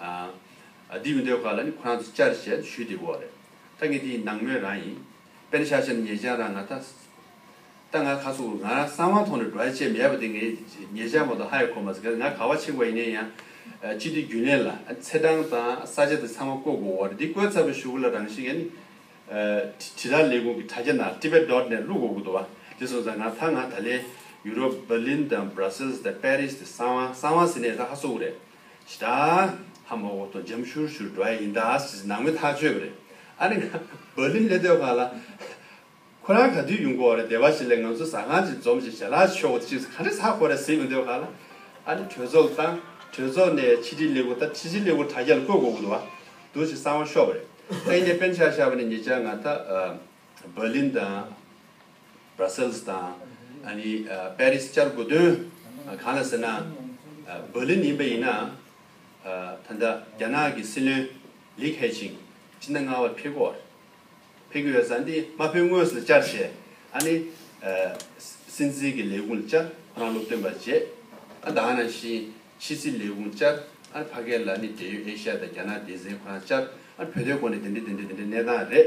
ཨ། འདི་མི་འདོད་ཁ་ལ་ནི་ཁོ་རང་ཚོ་བཅར་ཞེས་ད་ཞུས་དེ་འོ་རེད། ད་ངས་དེ་ཡི་ནང་མོས་རང་ཡིན། དཔེར་ན་ཤ་ཤ་ནི་ཉེ་བྱང་རང་ང་ད། ད་ང་ཁ་སོག་ང་རང་གསང་བ་ཐོག་ནས་འགྲོ་ཡ་ཆེད་མི་ཡ་པ་དེ་ངའི་ཉེ་བྱང་མ་ཏོག་ཧ་ཡ་ཁོ་མ་ཟེར་ག་ང་ག་བ་ཆེ་ག་བ་ཡིན་ནའི་ཡང། སྤྱི་འཐུས་རྒྱུན་ལས་ལ་ཚེ་འབྲང་དང་ས་ཆ་དེ་ཚང་མ་བསྐོ་དགོས་འོ་རེད་འདི་བསྐོས་ཚར་བའི་ཞུ་གུ་ལ་རང་བཞིན་ཡ་ནི། དྲི་ར་ལས་ཁུངས་ཀྱི་དྲ་རྒྱ་ན Tibet Dot Net བླུག་དགོས་དགོས་འདུག་བ་དེ་སོང་ཙང་ང་ད་ང་ད་ལས་ཡུ་རོབ Berlin དང Brussels དང Paris དེ་གསང་བ་གསང་བ་ཟེར་ནའི་ད་ཧ་སོག་གུ་རེད། ཞེས་དང། ཧ་མོ་ཧོ་དང་འཇམ་ཤུར་ཤུར་འགྲོ་ཡ་ཡིན་ད་ཟེར་ཟེར་ནང་མོས་ཐག་གཅོད་པ་རེད། ཨ་རི་བྷར་ལིན་ལྷན་སྡོད་ཁང་ལ། ཁོ་རང་ག་དུས་ཡོང་གོ་རེད་སྡེ་བ་ཞིག་ལས་ང་ཚོ་ཟ་ཁང་ཅིག་འཛོམས་ཞེས་ཞལ་ལག་མཆོད་འོ་ཅི་ག་རེ་ཟ་གོ་རེད་ཟེར་ཡོང་སྡོད་ཁང་ལ། ཨ་རི་གྲོས་ཚོགས་བཏང། གྲོས་ཚོགས་ནས་ཕྱི་དྲིལ་ལས་ཁུངས་བཏང་ཕྱི་དྲིལ་ལས་ཁུངས་དྲ་རྒྱ་ལ་བསྐོས་གོ་གོ་འདུག་བ། འདུག་ཅིག་གསང་བ་ཤོར་བ་རེད། སྟེང་ནས་པེན་ཤག་ཤག་བ་ནི་ངེད་ཅག་ང་ད། བྷར་ལིན་དང། བྷར་སེལ་སི་དང། པེ་རི་སི་བཅར་དགོས་དོན་གང་ལ་ཟེར་ན། བྷར་ལིན་ཡིན་པ་ཡིན་ན། ད་ལྟ་རྒྱ་ནག་གི་སྲིད་བློན་ལི་ཁེ་ཆིང་སྤྱི་ཟླ་ལྔ་བར་ཕེབས་སྐོར་ཕེབས་ཀྱི་ཡོད་ས་འདི་མ་ཕེབས་དངོས་སུ་བཅར་བྱས་ཨ་ནི། སྲིད་འཛིན་གྱི་ལས་ཁུངས་བཅར་ཁོ་རང་སློབ་སྟོན་པ་བྱས་ཨ་དང་ནང་བཞིན་ཕྱི་སྲིད་ལས་ཁུངས་བཅར་ཨ་ཕ་སྐད་ལ་ནི་འབྲེལ་ཡོད་ཨེ་ཤ་ཡ་དང་རྒྱ་ནག་སྡེ་ཚན་ཁོ་རང་བཅར་ཨ་བོད་དོན་སྐོར་ནི་དེ་འདྲ་དེ་འདྲ་དེ་འདྲ་གནས་སྟངས་རེད།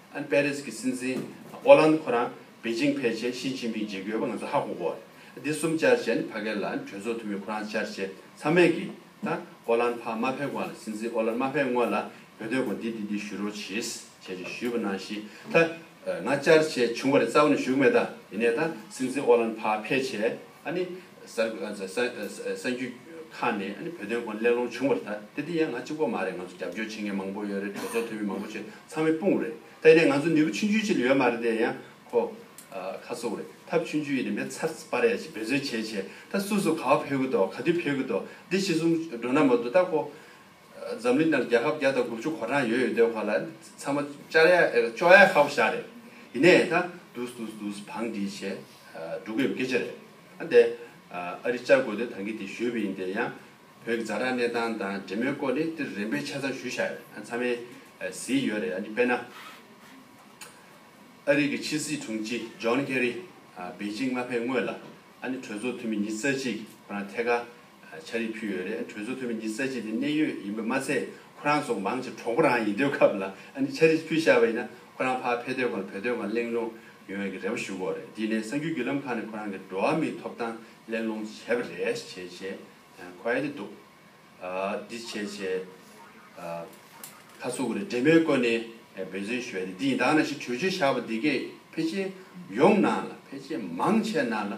ཨན་པེ་རིས་ཀྱི་སྲིད་འཛིན་ཨོ་ལན་ཁོ་རང་པེ་ཅིང་ཕེབས་རྗེས་ཞི་ཅིན་ཕིང་མཇལ་རྒྱུ་ཡོད་པ་ང་ཚོ་ཧ་གོ་གོ། འདི་གསུམ་བཅར་རྗེས་ནི་ཕ་གི་ལ་གྲོས་ཚོགས་འཐུས་མི་ཁོ་རང་བཅར་རྗེས་ཚང་མས་ཀྱི་ད་ཨོ་ལན་ཕ་མ་ཕེབས་གོང་ལ་སྲིད་འཛིན་ཨོ་ལན་མ་ཕེབས་སྔོན་ལ་བོད་དོན་སྐོར་འདི་འདི་འདི་ཞུ་རོགས་གྱིས་བྱས་རྗེས་ཞུས་པ་ནང་བཞིན་ད་ང་བཅར་རྗེས་བྱུང་བ་རེད་རྩ་བ་ནས་ཞུ་གི་མེད་ད་ཡིན་ནས་ད་སྲིད་འཛིན་ཨོ་ལན་ཕ་ཕེབས་རྗེས་ཨ་ནི། གསར་འགྱུར་ཁང་ནས་བོད་དོན་སྐོར་གླེང་སློང་བྱུང་བར་ད་དེ་དེ་ཡང་ང་གཅིག་པོ་མ་རེད་ང་ཚོ་རྒྱབ་སྐྱོར་བྱེད་མཁན་མང་པོ་ཡོད་རེད་གྲོས་ཚོགས་འཐུས་མི་མང་པོ་ཆེ་ཚང་མའི་དཔུང་རེད་ད་ཡིན་ནའི་ང་ཚོ་ནུས་པ་ཆུང་ཆུང་ཅིག་ལ་ཡོད་མ་རེད་དེ་ཡང་ཁོ་ཁ་སོ་རེད་ཐབས་ཆུང་ཆུང་ཡིན་ནའི་མེད་ཚར་སྤ་ར་ཡ་ཅིག་འབད་བརྩོན་བྱས་བྱས་ད་སུ་སུ་ག་བ་ཕེབས་ཀི་འདུག་ག་དུས་ཕེབས་ཀི་འདུག་འདི་ཕྱི་གསུམ་འགྲོ་ན་མ་གཏོགས་ད་ཁོ་འཛམ་གླིང་ནང་རྒྱལ་ཁབ་བརྒྱ་དང་དགུ་བཅུ་གོ་གྲངས་ཡོད་ཡོད་འདོད་ཁོ་ལ་ཚང་མ་ཅར་ཡ་ཅོ་ཡ་ཧ་པོ་ཤ་རེད་ཡིན་ནའི་ད་འདུག་འདུག་འདུག་འདུག་བང་སྒྲིག་བྱས་འགྲོ་གི་ཡོད་སྐད་ཆ་རེད། ཨ་འདས། ཨ་རིས་བཅར་དགོས་དོན་དང་གི་དེ་ཞུས་པ་ཡིན་དེ་ཡང། བོད་ཀྱི་རྫ་དྲག་གནས་སྟངས་དང་འབྲེལ་མོལ་སྐོར་ནི་འདིར་རིམ་པས་ཆ་ཚང་ཞུས་བཞག་ཡོད། ཚང་མས་གཟིགས་ཡོད་རེད། དཔེར་ན། ཨ་རིག་གི་ཕྱི་སྲིད་དྲུང་ཆེ John Kerry། པེ་ཅིང་མ་ཕེབས་སྔོན་ལ། གྲོས་ཚོགས་འཐུས་མི་ཉིས་རྩ་གཅིག་ཁོ་རང་ཐད་ཀར་ཆ་རེ་ཕུལ་ཡོད་རེད་གྲོས་ཚོགས་འཐུས་མི་གཉིས་ས་གཅིག་པའི་གནད་ཡོད་ཡིན་པ་མ་ཚད་ཁོ་རང་ཚོ་མང་ཆེ་གྲོགས་པོ་རང་ཡིན་དུས་སྐབས་ལ་ཨ་ནི་ཆ་རེ་ཕུལ་ཤར་བ་ཡིན་ན་ཁོ་རང་ཕར་ཕེབས་དོན་གང་བོད་དོན་གང་གླེང་སློང་ཡོང་ཡོད་ཀྱི་རེ་བ་ཞུ་དགོས་རེད་དེ་ནས་གསར་འགྱུར་བརྒྱུད་ལམ་ཁག་ནས་ཁོ་རང་གི་འགྲོ་བ་མིའི་ཐོབ་ཐང་གླེང་སློང་བྱས་པ་རེད་བྱས་བྱས་ཁོ་ཨེ་དེ་འདུག་འདི་བྱས་བྱས་ཁ་ཚུགས་ཀྱི་རེད་འབྲེལ་མོལ་བཀོད་ནས་འབད་བརྩོན་ཞུ་བ་རེད་འདི་ཡིན་དང་ན་ཞེས་གྲོས་ཆོད་ཤར་བ་འདི་གས་ཕལ་ཆེར་ཡོངས་ནང་ལ་ཕལ་ཆེར་མང་ཆེ་ནང་ལ་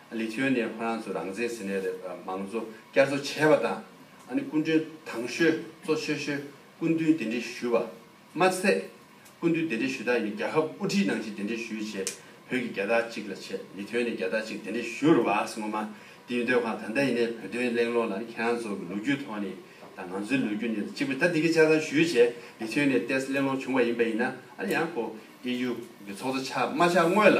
ལི་ཐེའོ་ནེ་ཁོ་རང་ཚོ་རང་བཙན་ཟེར་ནས་མང་གཙོ་བསྐྱར་གསོ་བྱས་པ་དང། སྐུ་མགྲོན་དྭང་ཤོས་གཙོ་ཆེ་ཤོས་སྐུ་མདུན་གདན་འདྲེན་ཞུས་པ་མ་ཟད། སྐུ་མདུན་གདན་འདྲེན་ཞུས་དག་ཡིན་རྒྱལ་ཁབ་དབུ་ཁྲིད་ནང་བཞིན་གདན་འདྲེན་ཞུས་ཆེད་བོད་ཀྱི་རྒྱལ་དར་གཅིག་ལ་ཆེད་ལི་ཐེའོ་ནེ་རྒྱལ་དར་གཅིག་གདན་འདྲེན་ཞུ་རུ་བགས་ངོ་མ་དེ་ཡིན་སྡོད་ཁང་ད་ལྟ་ཡིན་ནའི་བོད་དོན་གླེང་སློང་ལ་ནི་ཁྱེད་རང་ཚོ་གི་ལོ་རྒྱུས་ཐོག་ནས་དང་ང་ཚོའི་ལོ་རྒྱུས་ནས་གཅིག་པུ་ད་འདི་གི་ཆ་ཚང་ཞུས་ཆེད་ལི་ཐེའོ་ནེ་ལྟས་གླེང་སློང་བྱུང་བ་ཡིན་པ་ཡིན་ན་ཡང་ཀོ་ཨེ་ཡུ་གི་ཚོགས་གཙོ་ཆགས་མ་ཆགས་དངོས་ལ་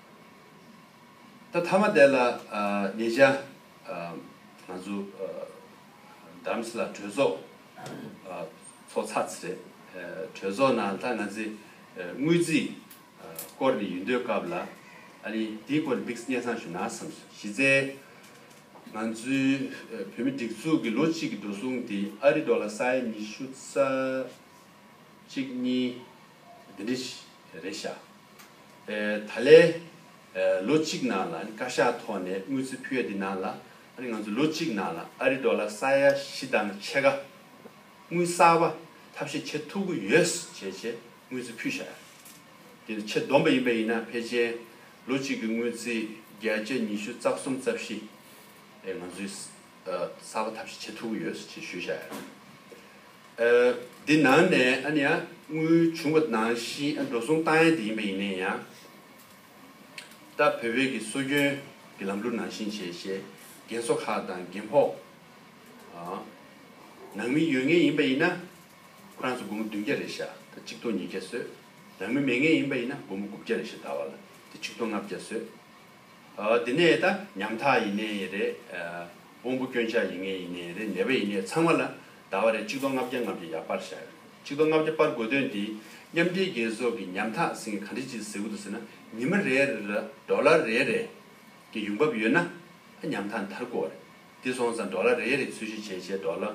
ད་ཐ་མ་དེ་ལ་ཉེ་ཆར་ང་ཚོ Dams ལ་གྲོས་ཚོགས་ཚོགས་ཚར་རེད། གྲོས་ཚོགས་ནང་ད་ང་ཚོས་དངུལ་རྩིས་སྐོར་ནས་ཡོད་འདོད་སྐབས་ལ་ཨ་རི་དེའི་སྐོར་ནས Biggs གཉེན་སང་ཞུ་ན་བསམ་སོང། གཞི་རྩའི་ང་ཚོའི་བོད་མི་སྒྲིག་འཛུགས་ཀྱི་ལོ་གཅིག་གི་འགྲོ་སོང་དེ་ཨ་རི Dollar ས་ཡ་ཉི་ཤུ་རྩ་གཅིག་གཉིས་དེ་འདྲི་རེད་ཤག། ད་ལས་ལོ་གཅིག་ནང་ལ་བཀའ་ཤག་ཐོག་ནས་དངུལ་རྩིས་ཕུལ་བ་འདི་ནང་ལ་ང་ཚོས་ལོ་གཅིག་ནང་ལ་ཨ་རི་ལྡོ་ལ་ས་ཡ་བཞི་དང་ཕྱེད་ཀ་དངུལ་གསར་པ་ཐབས་ཤེས་བྱེད་ཐུབ་ཀྱི་ཡོད་བྱས་ཆེད་དངུལ་རྩིས་ཕུལ་བཞག་ཡོད། འདི་ནི་ཆེད་བསྡོམས་པ་ཡིན་པས་ཡིན་ན་ཕལ་ཆེར་ལོ་གཅིག་གི་དངུལ་རྩིས་བརྒྱད་བརྒྱ་ཉི་ཤུ་རྩ་གསུམ་རྩ་བཞི་ང་ཚོས་གསར་པ་ཐབས་ཤེས་བྱེད་ཐུབ་ཀྱི་ཡོད་ཅེས་ཞུ་བཞག་ཡོད། འདི་ནང་ནས་ཨ་ནི་ཨ་དངུལ་བྱུང་བ་ནང་བཞིན་འགྲོ་སོང་བཏང་ཡས་དེ་ཡིན་པ་ཡིན་ནས་ཡང་ད་བོད་བོད་ཀྱི་སྲོལ་རྒྱུན་གྱི་ལམ་ལུགས་ནང་བཞིན་བྱས་ཞེས་རྒན་གསོ་ཁག་དང་རྒན་ཕོགས་ནང་མི་ཡོད་ངེས་ཡིན་པ་ཡིན་ན་ཁོ་རང་ཚོ་དགོང་མོ་བདུན་བརྒྱ་རེ་བཞག་ད་གཅིག་སྟོང་ཉིས་བརྒྱ་བཟོས་ནང་མི་མེད་ངེས་ཡིན་པ་ཡིན་ན་དགོང་མོ་དགུ་བརྒྱ་རེ་བཞག་ད་བར་ལ་ད་ཆིག་སྟོང་ལྔ་བརྒྱ་བཟོས། དེ་ནས་ད་ཉམ་ཐག་ཡིན་ནའི་ཡིན་རེད། དབང་པོ་སྐྱོན་ཆགས་ཡིན་ངེས་ཡིན་ནའི་ཡིན་རེད་ནད་པ་ཡིན་ནའི་ཚང་མ་ལ་དར་བ་རེད་གཅིག་སྟོང་ལྔ་བརྒྱ་ལྔ་བརྒྱ་ཡར་སྤར་བཞག་ཡོད་གཅིག་སྟོང་ལྔ་བརྒྱ་སྤར་དགོས་དོན་དེ་མཉམ་འབྲེལ་རྒྱལ་ཚོགས་ཀྱི་ཉམ་ཐག་ཟེར་མཁན་ག་འདྲི་ཅིག་ཟེར་གི་འདུག་ཟེར་ན་ཉི་མ་རེ་རེ་ལ་འབྲོག་ལ་རེ་རེ་གི་ཡོང་འབབ་ཡོད་ན་ད་ཉམ་ཐག་འདར་དགོས་བ་རེད་དེ་སོང་ཙང་འབྲོག་ལ་རེ་རེ་འཚོལ་ཞིབ་བྱས་བྱས་འབྲོག་ལ་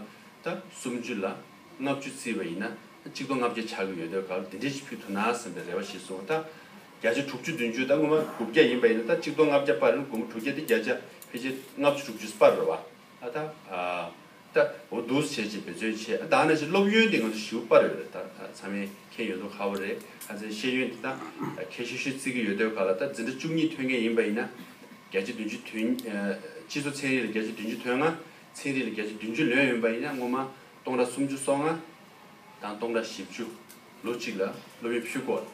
ད་སུམ་ཅུ་ལ་ལྔ་བཅུ་བརྩིས་བ་ཡིན་ན་ད་གཅིག་སྟོང་ལྔ་བརྒྱ་ཆགས་ཀྱི་ཡོད་དོས་ག་ལ་དེ་འདྲས་ཅིག་ཕུད་ཐུབ་ན་ཟེར་བའི་རེ་བ་ཞིག་སོང་ད། བརྒྱ་ཆ་དྲུག་ཅུ་བདུན་ཅུ་དང་སྔོན་མ་དགུ་བརྒྱ་ཡིན་པ་ཡིན་ན་ད་གཅིག་སྟོང་ལྔ་བརྒྱ་པར་དགུ་དྲུག་བརྒྱ་དེ་བརྒྱ་ཆ་ཕལ་ཆེར་ལྔ་བཅུ་དྲུག་ཅུ་པར་རོ། ད་ད་འོ་དུ་བྱས་ཅེས་བེད་སྤྱོད་བྱས་ཨ་ད་ནས་ཅི་སློབ་ཡོན་དེ་ང་ཚོ་ཞིའུ་པར་ཡོད་རེད་ད་ད་ཚང་མའི་ཁེན་ཡོད་འདུག་ཧ་བོ་རེད་ཨ་ཚའི་ཤེས་ཡོན་དེ་ད་ཁེ་ཤུ་ཤུ་བརྩི་གི་ཡོད་དོས་ག་ལ་ད་འཛིན་གྲྭ་བཅུ་གཉིས་ཐོན་མཁན་ཡིན་པ་ཡིན་ན་བརྒྱ་ཆ་བདུན་ཅུ་དོན་སྤྱི་ཚོ་ཚན་རིག་ལ་བརྒྱ་ཆ་བདུན་ཅུ་དོན་ལྔ་ཚན་རིག་ལ་བརྒྱ་ཆ་བདུན་ཅུ་ལོན་ཡོན་པ་ཡིན་ན་སྔོན་མ་སྟོང་གྲ་སུམ་ཅུ་སོ་ལྔ་དང་སྟོང་གྲ་བཞི་བཅུ་ལོ་གཅིག་ལ་སློབ་ཡོན་ཕུལ་དགོས།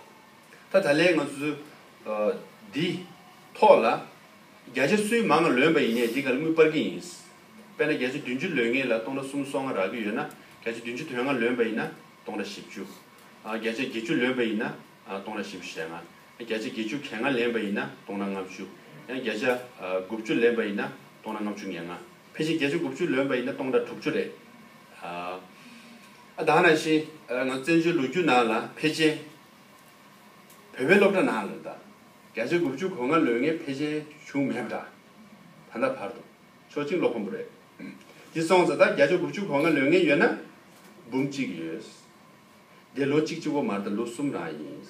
ད་ད་ལན་ང་ཚོ་འདི་ཐོག་ལ་བརྒྱ་ཆ་སུའི་མང་ང་ལོན་པ་ཡིན་ནས་འདི་ག་ལ་དངུལ་སྤར་གི་ཡིན། དཔེར་ན་བརྒྱ་ཆ་བདུན་ཅུ་ལོན་ངེས་ལ་སྟོང་ར་གསུམ་སོ་ལྔ་རག་གི་ཡོད་ན་བརྒྱ་ཆ་བདུན་ཅུ་དོན་ལྔ་ལོན་པ་ཡིན་ན་སྟོང་ར་བཞི་བཅུ། བརྒྱ་ཆ་བརྒྱད་ཅུ་ལོན་པ་ཡིན་ན་སྟོང་ར་བཞི་བཅུ་ཞེ་ལྔ། བརྒྱ་ཆ་བརྒྱད་ཅུ་གྱ་ལྔ་ལེན་པ་ཡིན་ན་སྟོང་ར་ལྔ་བཅུ། ཡང་བརྒྱ་ཆ་དགུ་བཅུ་ལེན་པ་ཡིན་ན་སྟོང་ར་ལྔ་བཅུ་ཉེར་ལྔ། ཕལ་ཆེར་བརྒྱ་ཆ་དགུ་བཅུ་ལོན་པ་ཡིན་ན་སྟོང་ར་དྲུག་བཅུ་རེད། ཨ་དང་ན་བཞིན་ང་ཚོ་བཙན་བྱོལ་ལོ་རྒྱུས་ནང་ལ་ཕལ་ཆེན་བོད་པའི་སློབ་གྲྭ་ནང་ལོ་ཟླ་བརྒྱ་ཆའི་དགུ་བཅུ་གོ་ལྔ་ལོན་ངེས་ཕལ་ཆེར་བྱུང་མེད་པ་འདྲ། ད་ལྟ་བར་དུ་ཕྱོགས་གཅིག་བློ་ཁོམ་པོ་རེད། དེ་སོང་ཙང་ད་བརྒྱ་ཆ་དགུ་བཅུ་གོ་ལྔ་ལོན་ངེས་ཡོད་ན། འབུམ་གཅིག་ཡོད། འདི་ལོ་གཅིག་གཅིག་བོ་མར་ད་ལོ་གསུམ་རང་ཡིན།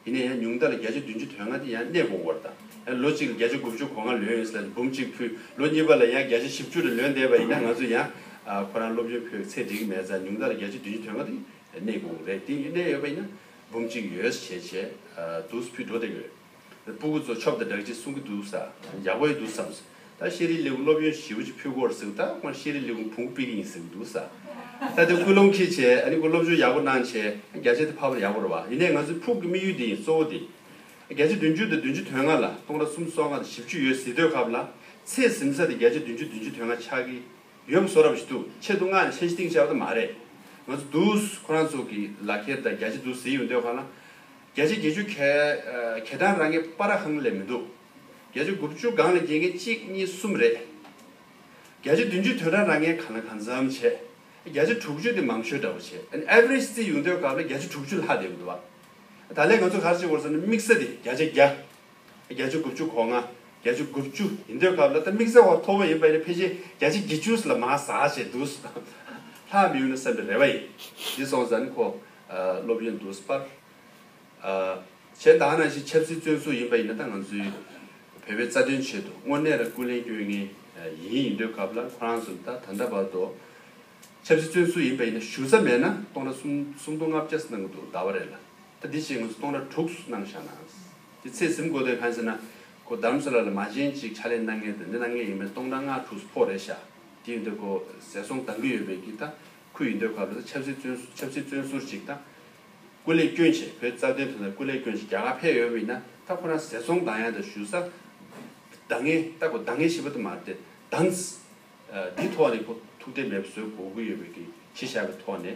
ཡིན་ན་ཡང་ཉུང་མཐའ་ལ་བརྒྱ་ཆ་བདུན་ཅུ་དོན་ལྔ་དེ་ཡང་གནས་སྤོ་བོར་ད་ཡང་ལོ་གཅིག་ལ་བརྒྱ་ཆ་དགུ་བཅུ་གོ་ལྔ་ལོན་ཡོད་ས་ལ་འབུམ་གཅིག་ཕུལ་ལོ་གཉིས་པ་ལ་ཡང་བརྒྱ་ཆ་བཞི་བཅུ་རེ་ལོན་བསྡད་པ་ཡིན་ན་ང་ཚོ་ཡང་ཁོ་རང་སློབ་ཡོན་ཕུལ་བའི་ཚད་འགྲིག་མེད་ཙང་ཉུང་མཐའ་ལ་བརྒྱ་ཆ་བདུན་ཅུ་དོན་ལྔ་དེ་གནས་གང་རེད་དེ་གནས་ཡོད་པ་ཡིན་ན་འབུམ་གཅིག་ཡོད་ཞེས་བྱས་འདུག་ཕུད་འགྲོ་བསྡད་ཡོད། སྤུ་གུ་ཚོ་ཆོབ་དང་སྦྲགས་ཅིག་གསུང་གི་འདུག་ས་རྒྱག་པ་ཡོད་འདུག་བསམ་སོང། ད་ཤེས་རིག་ལས་ཁུངས་སློབ་ཡོན་ཞེ་བོ་ཅིག་ཕུད་དགོས་རེད་ཟེར་ཐག་ཁོང་ཤེས་རིག་ལས་ཁུངས་བུང་བུ་སྤེལ་གི་ཡིན་ཟེར་གི་འདུག་ས་ད་དེ་སྐུལ་སློང་ཁྱེད་བྱས་ཨ་ནི་ཁོ་སློབ་སྦྱོང་ཡག་པོ་གནང་བྱས་བརྒྱ་ཆ་དེ་ཕ་པར་ཡག་པོ་རེད་བ་ཡིན་ནའི་ང་ཚོའི་ཕུགས་ཀྱི་དམིགས་ཡུལ་དེ་ཡིན་གཙོ་བོ་དེ་བརྒྱ་ཆ་བདུན་ཅུ་དང་བདུན་ཅུ་དོན་ལྔ་ལ་སྟོང་ར་གསུམ་སོ་ལྔ་དང་བཞི་བཅུ་ཡོད་ཟེར་དུས་སྐབས་ལ་ཚེ་ཟིན་ས་དེ་བརྒྱ་ཆ་བདུན་ཅུ་བདུན་ཅུ་དོན་ལྔ་ཆགས་ཀྱི། ཡོད་མ་སོ་རབས་ཞིག་འདུག་ཆེད་དུ་སྔགས་ཀྱི་མཆན་ཞིག་གཏིང་བཅག་པ་དེ་མ་རེད། ང་ཚོ་འདུག་ཁོ་རང་ཚོ་གི་ལག་ཁྱེར་དང་རྒྱ་ཆེ་འདུག་ཟེར་ཡོད་འདོད་གང་ན། བརྒྱ་ཆ་བརྒྱད་ཅུ་གལ། གལ་གྲངས་རང་ངེས་པ་ར་ཧང་ལས་མི་འདུག། བརྒྱ་ཆ་དགུ་བཅུ་སྒང་ལས་བརྒྱད་མཁན་གཅིག་གཉིས་གསུམ་རེད། བརྒྱ་ཆ་བདུན་ཅུ་དོན་གྲངས་རང་ངེས་གང་ལ་གང་འཚམ་བྱས། བརྒྱ་ཆ་དྲུག་ཅུ་དེ་མང་ཤོས་འདྲ་བོ་བྱས། Average བརྩིས་ཡོང་འདོད་སྐབས་ལ་བརྒྱ་ཆ་དྲུག་ཅུ་ལྷག་བསྡད་ཡོད་འདུག་བ། ད་ལན་ང་ཚོ་གར་བྱེད་དགོས་སམ་ན་དམིགས་བསལ་དེ་བརྒྱ་ཆ་བརྒྱ། བརྒྱ་བཅུ་དགུ་བཅུ་གོ་ལྔ། བརྒྱ་བཅུ་དགུ་བཅུ་ཡིན་འདོད་སྐབས་ལ་ད་དམིགས་བསལ་བ་མཐོ་བོ་ཡིན་པ་ནི་ཕལ་ཆེར་བརྒྱ་ཆ་བརྒྱད་བཅུ་ལ་མ་ཟག་ཅེས་འདུག་སོ། ལྷག་མི་ཡོང་ན་བསམ་པའི་རེ་བ་ཡིན། འདི་སོང་ཙང་ནི་ཁོ་སློབ་ཡོན་འདུག་པར། གཞན་དག་ནང་བཞིན་ཆབ་སྲིད་བཙོན་ཟུར་ཡིན་པ་ཡིན་ན་ད་ང་ཚོའི་བོད་པའི་རྩ་དོན་ཆེད་དུ་དངོས་གནས་ར་སྐུལ་ལེན་སྐྱོན་ངན་ཡིན་ཡིན་འདོད་སྐབས་ལ་ཁོ་རང་ཚོ་ད་ད་ལྟ་བར་དུ་ཆབ་སྲིད་བཙོན་ཟུར་ཡིན་པ་ཡིན་ན་ཞུ་རྩ་མེད་ན་སྟོང་ར་གསུམ་སྟོང་ལྔ་བརྒྱ་སུ་གནང་གི་འདུག་གདའ་བ་རེད་ལ་ད་འདི་བཞིན་ང་ཚོ་སྟོང་ར་དྲུག་སུ་གནང་བཞག་ན། དེ་ཚེ་གཟིམ་དགོས་དོན་གང་ཟེར་ན། ཁོ་བདག་མཚོ་ལ་ལ་མ་གཞན་ཅིག་ཕྱག་ལེན་གནང་མཁན་དེ་འདི་གནང་མཁན་ཡིན་པས་སྟོང་ཕྲག་ལྔ་དྲུག་སུ་ཕོག་རེད་ཤག་དེ་ཡིན་དུས་ཁོ་ཟས་སོང་དགའ་གི་ཡོད་པས་ཀྱི་ད་ཁུ་ཡིན་དུས་ག་ལོ་ད་ཆབ་སྲིད་བཙོན་ཆབ་སྲིད་བཙོན་ཟུར་ཅིག་ད། སྐུ་ལས་སྐྱོན་ཆེ་བོད་རྩ་དོན་དོན་ད་སྐུ་ལས་སྐྱོན་ཆེ་རྒྱ་གར་ཕེབས་ཡོད་པ་ཡིན་ན་ད་ཁོ་རང་ཟས་སོང་གདང་ཡང་ད་ཞུ་ས་གདང་ངེ་ད་ཁོ་གདང་ངེ་ཤི་བ་ད་མ་རེད་དེ་གདང། འདི་ཐོག་ནས་ཁོ་ཐུགས་ཁྲལ་མེད་པ་བཟོས་གོ་གི་ཡོད་པས་ཀྱི་ཕྱི་བཞག་པའི་ཐོག་ནས།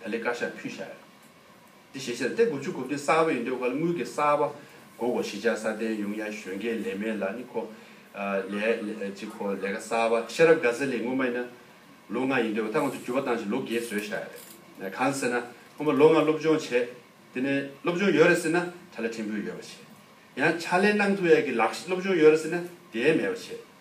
བལ་ལེ་དཀར་ཤ་ཕུད་ཤ་ཡོད། འདི་ཞེ་ཆེར་སྟེ་དགུ་བཅུ་དགུ་བརྒྱ་གསར་བ་ཡིན་འདོད་ག་ལ་དངུལ་གྱི་གསར་བ་གོ་གོ་ཞི་ཆགས་སྲ་བརྟན་ཡོང་ཡ་གཞོན་སྐྱེས་ལས་མེད་ལ་ནི་ཁོ། ལས། ཅི་ཁོ་ལས་ཀ་གསར་བ་ཤེས་རབ་དགའ་ཚལ་ལས་སྔོན་མ་ཡིན་ན། ལོ་ལྔ་ཡིན་འདོད་ག་ད་ང་ཚོ་འགྱུར་བ་བཏང་ཞིང་ལོ་བརྒྱད་བཟོས་ཤ་ཡ་རེད། གང་ཟེར་ན་སྔོན་མ་ལོ་ལྔ་སློབ་སྦྱོང་བྱེད། དེ་ནས་སློབ་སྦྱོང་ཡོད་རེད་ཟེར་ན་ཕྲ་ལས་ཕྲན་བུ་ཡོད་པ་བྱེད། ཡང་ཕྱག་ལས་གནང་ཐུབ་ཡ་གི་ལགས་སློབ་སྦྱོང་ཡོད་རེད་ཟེར་ན་དེའི་མེད་པ་བྱེད།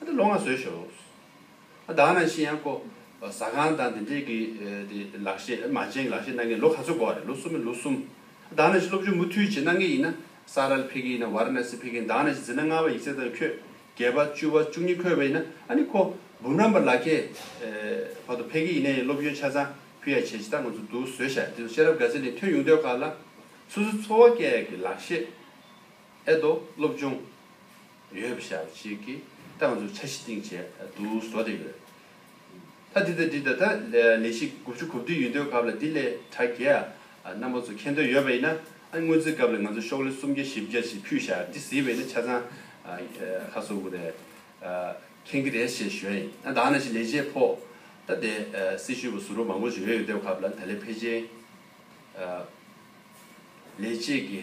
ཨ་ཏི་ལོ་ང་བཟོས་ཤོག། ཨ་བདག་ནང་ཤི་ཡང་ཀོ། ཟ་ཁང་དང་དེ་འདྲས་ཀྱི་དེ་ལག་བཤད་ཨེ་མ་ཅན་གྱི་ལག་བཤད་གནང་མཁན་ལོ་ག་ཚོད་འགོ་བ་རེད་ལོ་གསུམ་མེད་ལོ་གསུམ། ཨ་བདག་ནང་ཤི་སློབ་སྦྱོང་མུ་མཐུད་བྱེད་གནང་མཁན་ཡིན་ན་ས་རལ་ཕེ་གི་ཡིན་ན་བ་ར་ན་སི་ཕེ་གི་ཡིན་བདག་ནང་ཤི་འཛིན་ན་ལྔ་བ་ཡིག་ཚད་དང་ཁྱོད་བརྒྱད་པ་བཅུ་བ་བཅུ་གཉིས་འཁོད་པ་ཡིན་ན་ཨ་ནི་ཁོ་འབུམ་རམས་པ་ལག་ཁྱེད་བར་དུ་ཕེ་གི་ཡིན་ན་ཡིན་སློབ་སྦྱོང་ཆ་ཚང་ཕུལ་ཡ་བྱས་ཇི་ལྟར་ང་ཚོ་འདུག་བཟོས་ཤག་དེ་ཚོ་ཤེས་རབ་དགའ་ཚལ་ནས་ཐོན་ཡོང་དོད་ཁག་ལ་སོ་སོའི་འཚོ་བ་སྐྱལ་ཡ་གི་ལག་བཤད་ཨེ་འདོ་སློབ་སྦྱོང་ཡོད་པ་ཞག་གཅིག་གི་སྟངས་སུ་འཆར་གཞི་བཏིང་བྱས་འདུག་བཟོ་བསྡད་ཡོད། ད་འདི་ལྟར་འདི་ད་ལྟ་ལས་གཞི་དགུ་བཅུ་གོ་བདུན་ཡུན་དོན་གབ་ལ་འདི་ལས་དྲ་རྒྱའི་རྣམ་པ་ཚོ་ཁེ་འདོད་ཡོད་པ་ཡིན་ན་ཨ་དངུལ་རྩིས་གབ་ལ་ང་ཚོ་ཤོག་ལེ་སུམ་བརྒྱ་བཞི་བརྒྱ་ཞིག་ཕུད་བཞག་འདི་ཟིལ་བས་ན་ཆ་ཚང་ཁ་གསོ་དགོས་རེད་མཁན་གི་རེད་ཞེས་ཞོལ་ཡིན་ན་དང་ན་ཞིག་ལས་བྱེད་ཕོག་ད་ལྟའི་སྲི་ཞུ་བ་ཟུར་བ་མང་པོ་ཞིག་ཡོད་ཡོད་སྡེབ་གབ་ལ་ད་ལས་ཕལ་ཆེར་ལས་བྱེད་ཀྱི།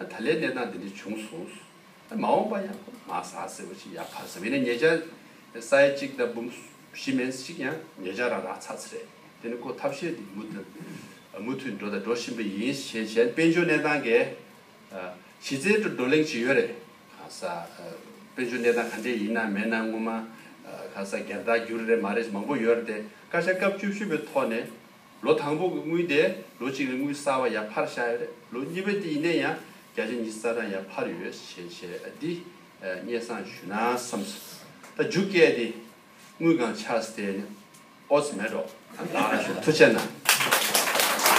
ཨ་ད་ལའི་གནས་སྟངས་འདི་འདྲ་བྱུང་སོང། ཨ་མ་འོངས་པ་ཡང་ཁོ་མ་ཟ་ཟེར་བ་ཞིག་ཡག་ཕར་ཟ་བས་ནི་ངེད་ཅག་ས་ཡ་གཅིག་དང་འབུམ་བཞི་མན་ཞིག་ཡང་ངེད་ཅག་རང་རང་ཚ་ཚ་རེད། དེ་ནི་ཁོ་ཐབས་ཤེས་དེ་མུ་མཐུད་མུ་མཐུད་འགྲོ་དང་འགྲོ་བཞིན་པ་ཡིན་ཞེས་གཞན་དཔལ་འབྱོར་གནས་སྟངས་འགའི་གཞི་རྩའི་ཁྲོད་བགྲོ་གླེང་བྱེད་ཡོད་རེད། གང་ཟག་དཔལ་འབྱོར་གནས་སྟངས་ག་འདྲའི་ཡིན་ན་མེད་ན་སྔོན་མ་གང་ཟག་སྒེར་བདག་རྒྱུ་རེ་རེ་མ་རེད་མང་པོ་ཡོད་རེད་དེ་བཀའ་ཤག་སྐབས་བཅུ་བཞི་པའི་ཐོག་ནས་ལོ་དང་པོ་གི་དངུལ་དེ་ལོ་གཅིག་ལ་དངུལ་གསར་བ་ཡར་འཕར་བྱ་ཡོད་རེད་ལོ་གཉིས་པའི་དེ་ཡིན་ནས་ཡང་བརྒྱ་ཆ་ཉི་ས་གྲངས་ཡར་འཕར་ཡོད་ཞེས་བཤད་དེ། སྙན་བཟང་ཞུ་ན་བསམ་སོང་ད་རྒྱུ་སྐད་དེ་དངུལ་གང་ཆགས་སེ་ནི་ཨོ་ཙི་མེད་འགྲོ། ལགས། ཐུགས་ཆེ་གནང།